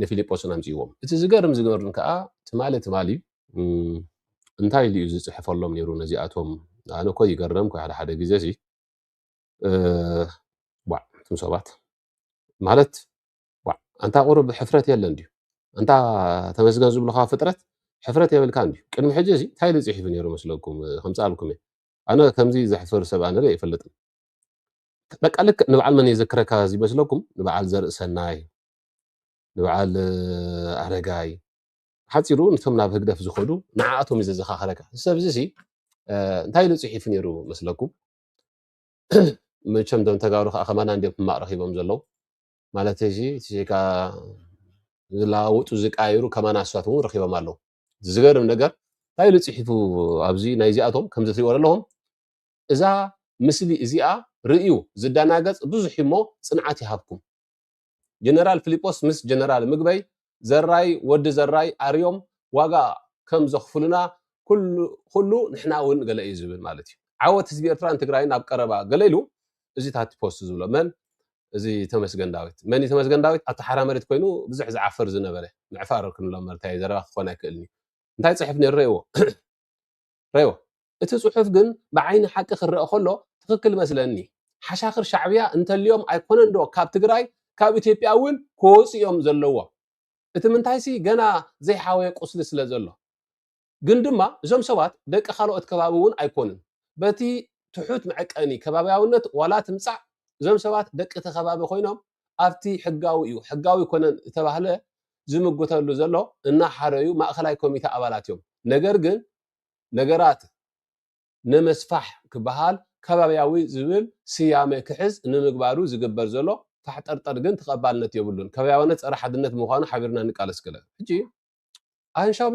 ንፊልጶስን ኣምጺእዎም። እቲ ዝገርም ዝገርን ከኣ ትማሊ ትማሊ እዩ። እንታይ ኢሉ እዩ ዝጽሕፈሎም ነይሩ ነዚኣቶም? ኣነ እኮ ይገረምኩ ሓደ ሓደ ግዜሲ ዋዕ እቶም ሰባት ማለት ዋዕ ኣንታ ቁሩብ ሕፍረት የለን ድዩ? ኣንታ ተመስገን ዝብልካ ፍጥረት ሕፍረት የብልካን ድዩ? ቅድሚ ሕጂ እዚ እንታይ ኢሉ ጽሒፉ ነይሩ መስለኩም? ከምጽኣልኩም እየ። ኣነ ከምዚ ዘሕፍር ሰብ ኣነ ርእ ኣይፈልጥን። በቃ ልክዕ ንበዓል መን የዘክረካ እዚ መስለኩም? ንበዓል ዘርእሰናይ ንበዓል ኣረጋይ ሓፂሩ ንቶም ናብ ህግደፍ ዝኸዱ ንዓኣቶም እዩ ዘዘኻኸረካ እዚ ሰብ እዚ እንታይ ኢሉ ፅሒፉ ነይሩ መስለኩም መቸም ዶም ተጋሩ ከዓ ከማና እንዲዮም ሕማቅ ረኪቦም ዘለዉ ማለት እዚ ዜጋ ዝለዋወጡ ዝቃየሩ ከማና ኣስዋት እውን ረኪቦም ኣለዉ ዝገርም ነገር እንታይ ኢሉ ፅሒፉ ኣብዚ ናይ እዚኣቶም ከምዚ ትሪእዎ ኣለኹም እዛ ምስሊ እዚኣ ርእዩ ዝደናገፅ ብዙሕ እሞ ፅንዓት ይሃብኩም ጀነራል ፍሊጶስ ምስ ጀነራል ምግበይ ዘራይ ወዲ ዘራይ ኣርዮም ዋጋ ከም ዘኽፍሉና ኩሉ ንሕና ውን ገለ እዩ ዝብል ማለት እዩ ዓወት ህዝቢ ኤርትራን ትግራይን ኣብ ቀረባ ገለ ኢሉ እዚ ታቲ ፖስት ዝብሎ መን እዚ ተመስገን ዳዊት መን እዩ ተመስገን ዳዊት ኣብቲ ሓራ መሬት ኮይኑ ብዙሕ ዝዓፍር ዝነበረ ምዕፋር ክንብሎ መርታየ ዘረባ ክኾን ኣይክእልን እዩ እንታይ ፅሑፍ ነይሩ ረእዎ ረዮ እቲ ጽሑፍ ግን ብዓይኒ ሓቂ ክረኣ ከሎ ትክክል መስለኒ ሓሻክር ሻዕብያ እንተልዮም ኣይኮነን ዶ ካብ ትግራይ ካብ ኢትዮጵያ እውን ክወጹ እዮም ዘለዎም እቲ ምንታይሲ ገና ዘይሓወየ ቁስሊ ስለ ዘሎ ግን ድማ እዞም ሰባት ደቂ ካልኦት ከባቢ እውን ኣይኮኑን በቲ ትሑት መዐቀኒ ከባብያውነት ዋላ ትምጻእ እዞም ሰባት ደቂ እቲ ከባቢ ኮይኖም ኣብቲ ሕጋዊ እዩ ሕጋዊ ኣይኮነን እተባህለ ዝምጉተሉ ዘሎ እናሓረዩ ማእኸላይ ኮሚተ ኣባላት እዮም። ነገር ግን ነገራት ነመስፋሕ ክበሃል ከባብያዊ ዝብል ስያመ ክሕዝ ንምግባሩ ዝግበር ዘሎ ፋሕጠርጠር ግን ተቐባልነት የብሉን። ከባብያውነት ፀረ ሓድነት ብምዃኑ ሓቢርና ንቃለስ ክለ ሕጂ ኣሃንሻዊ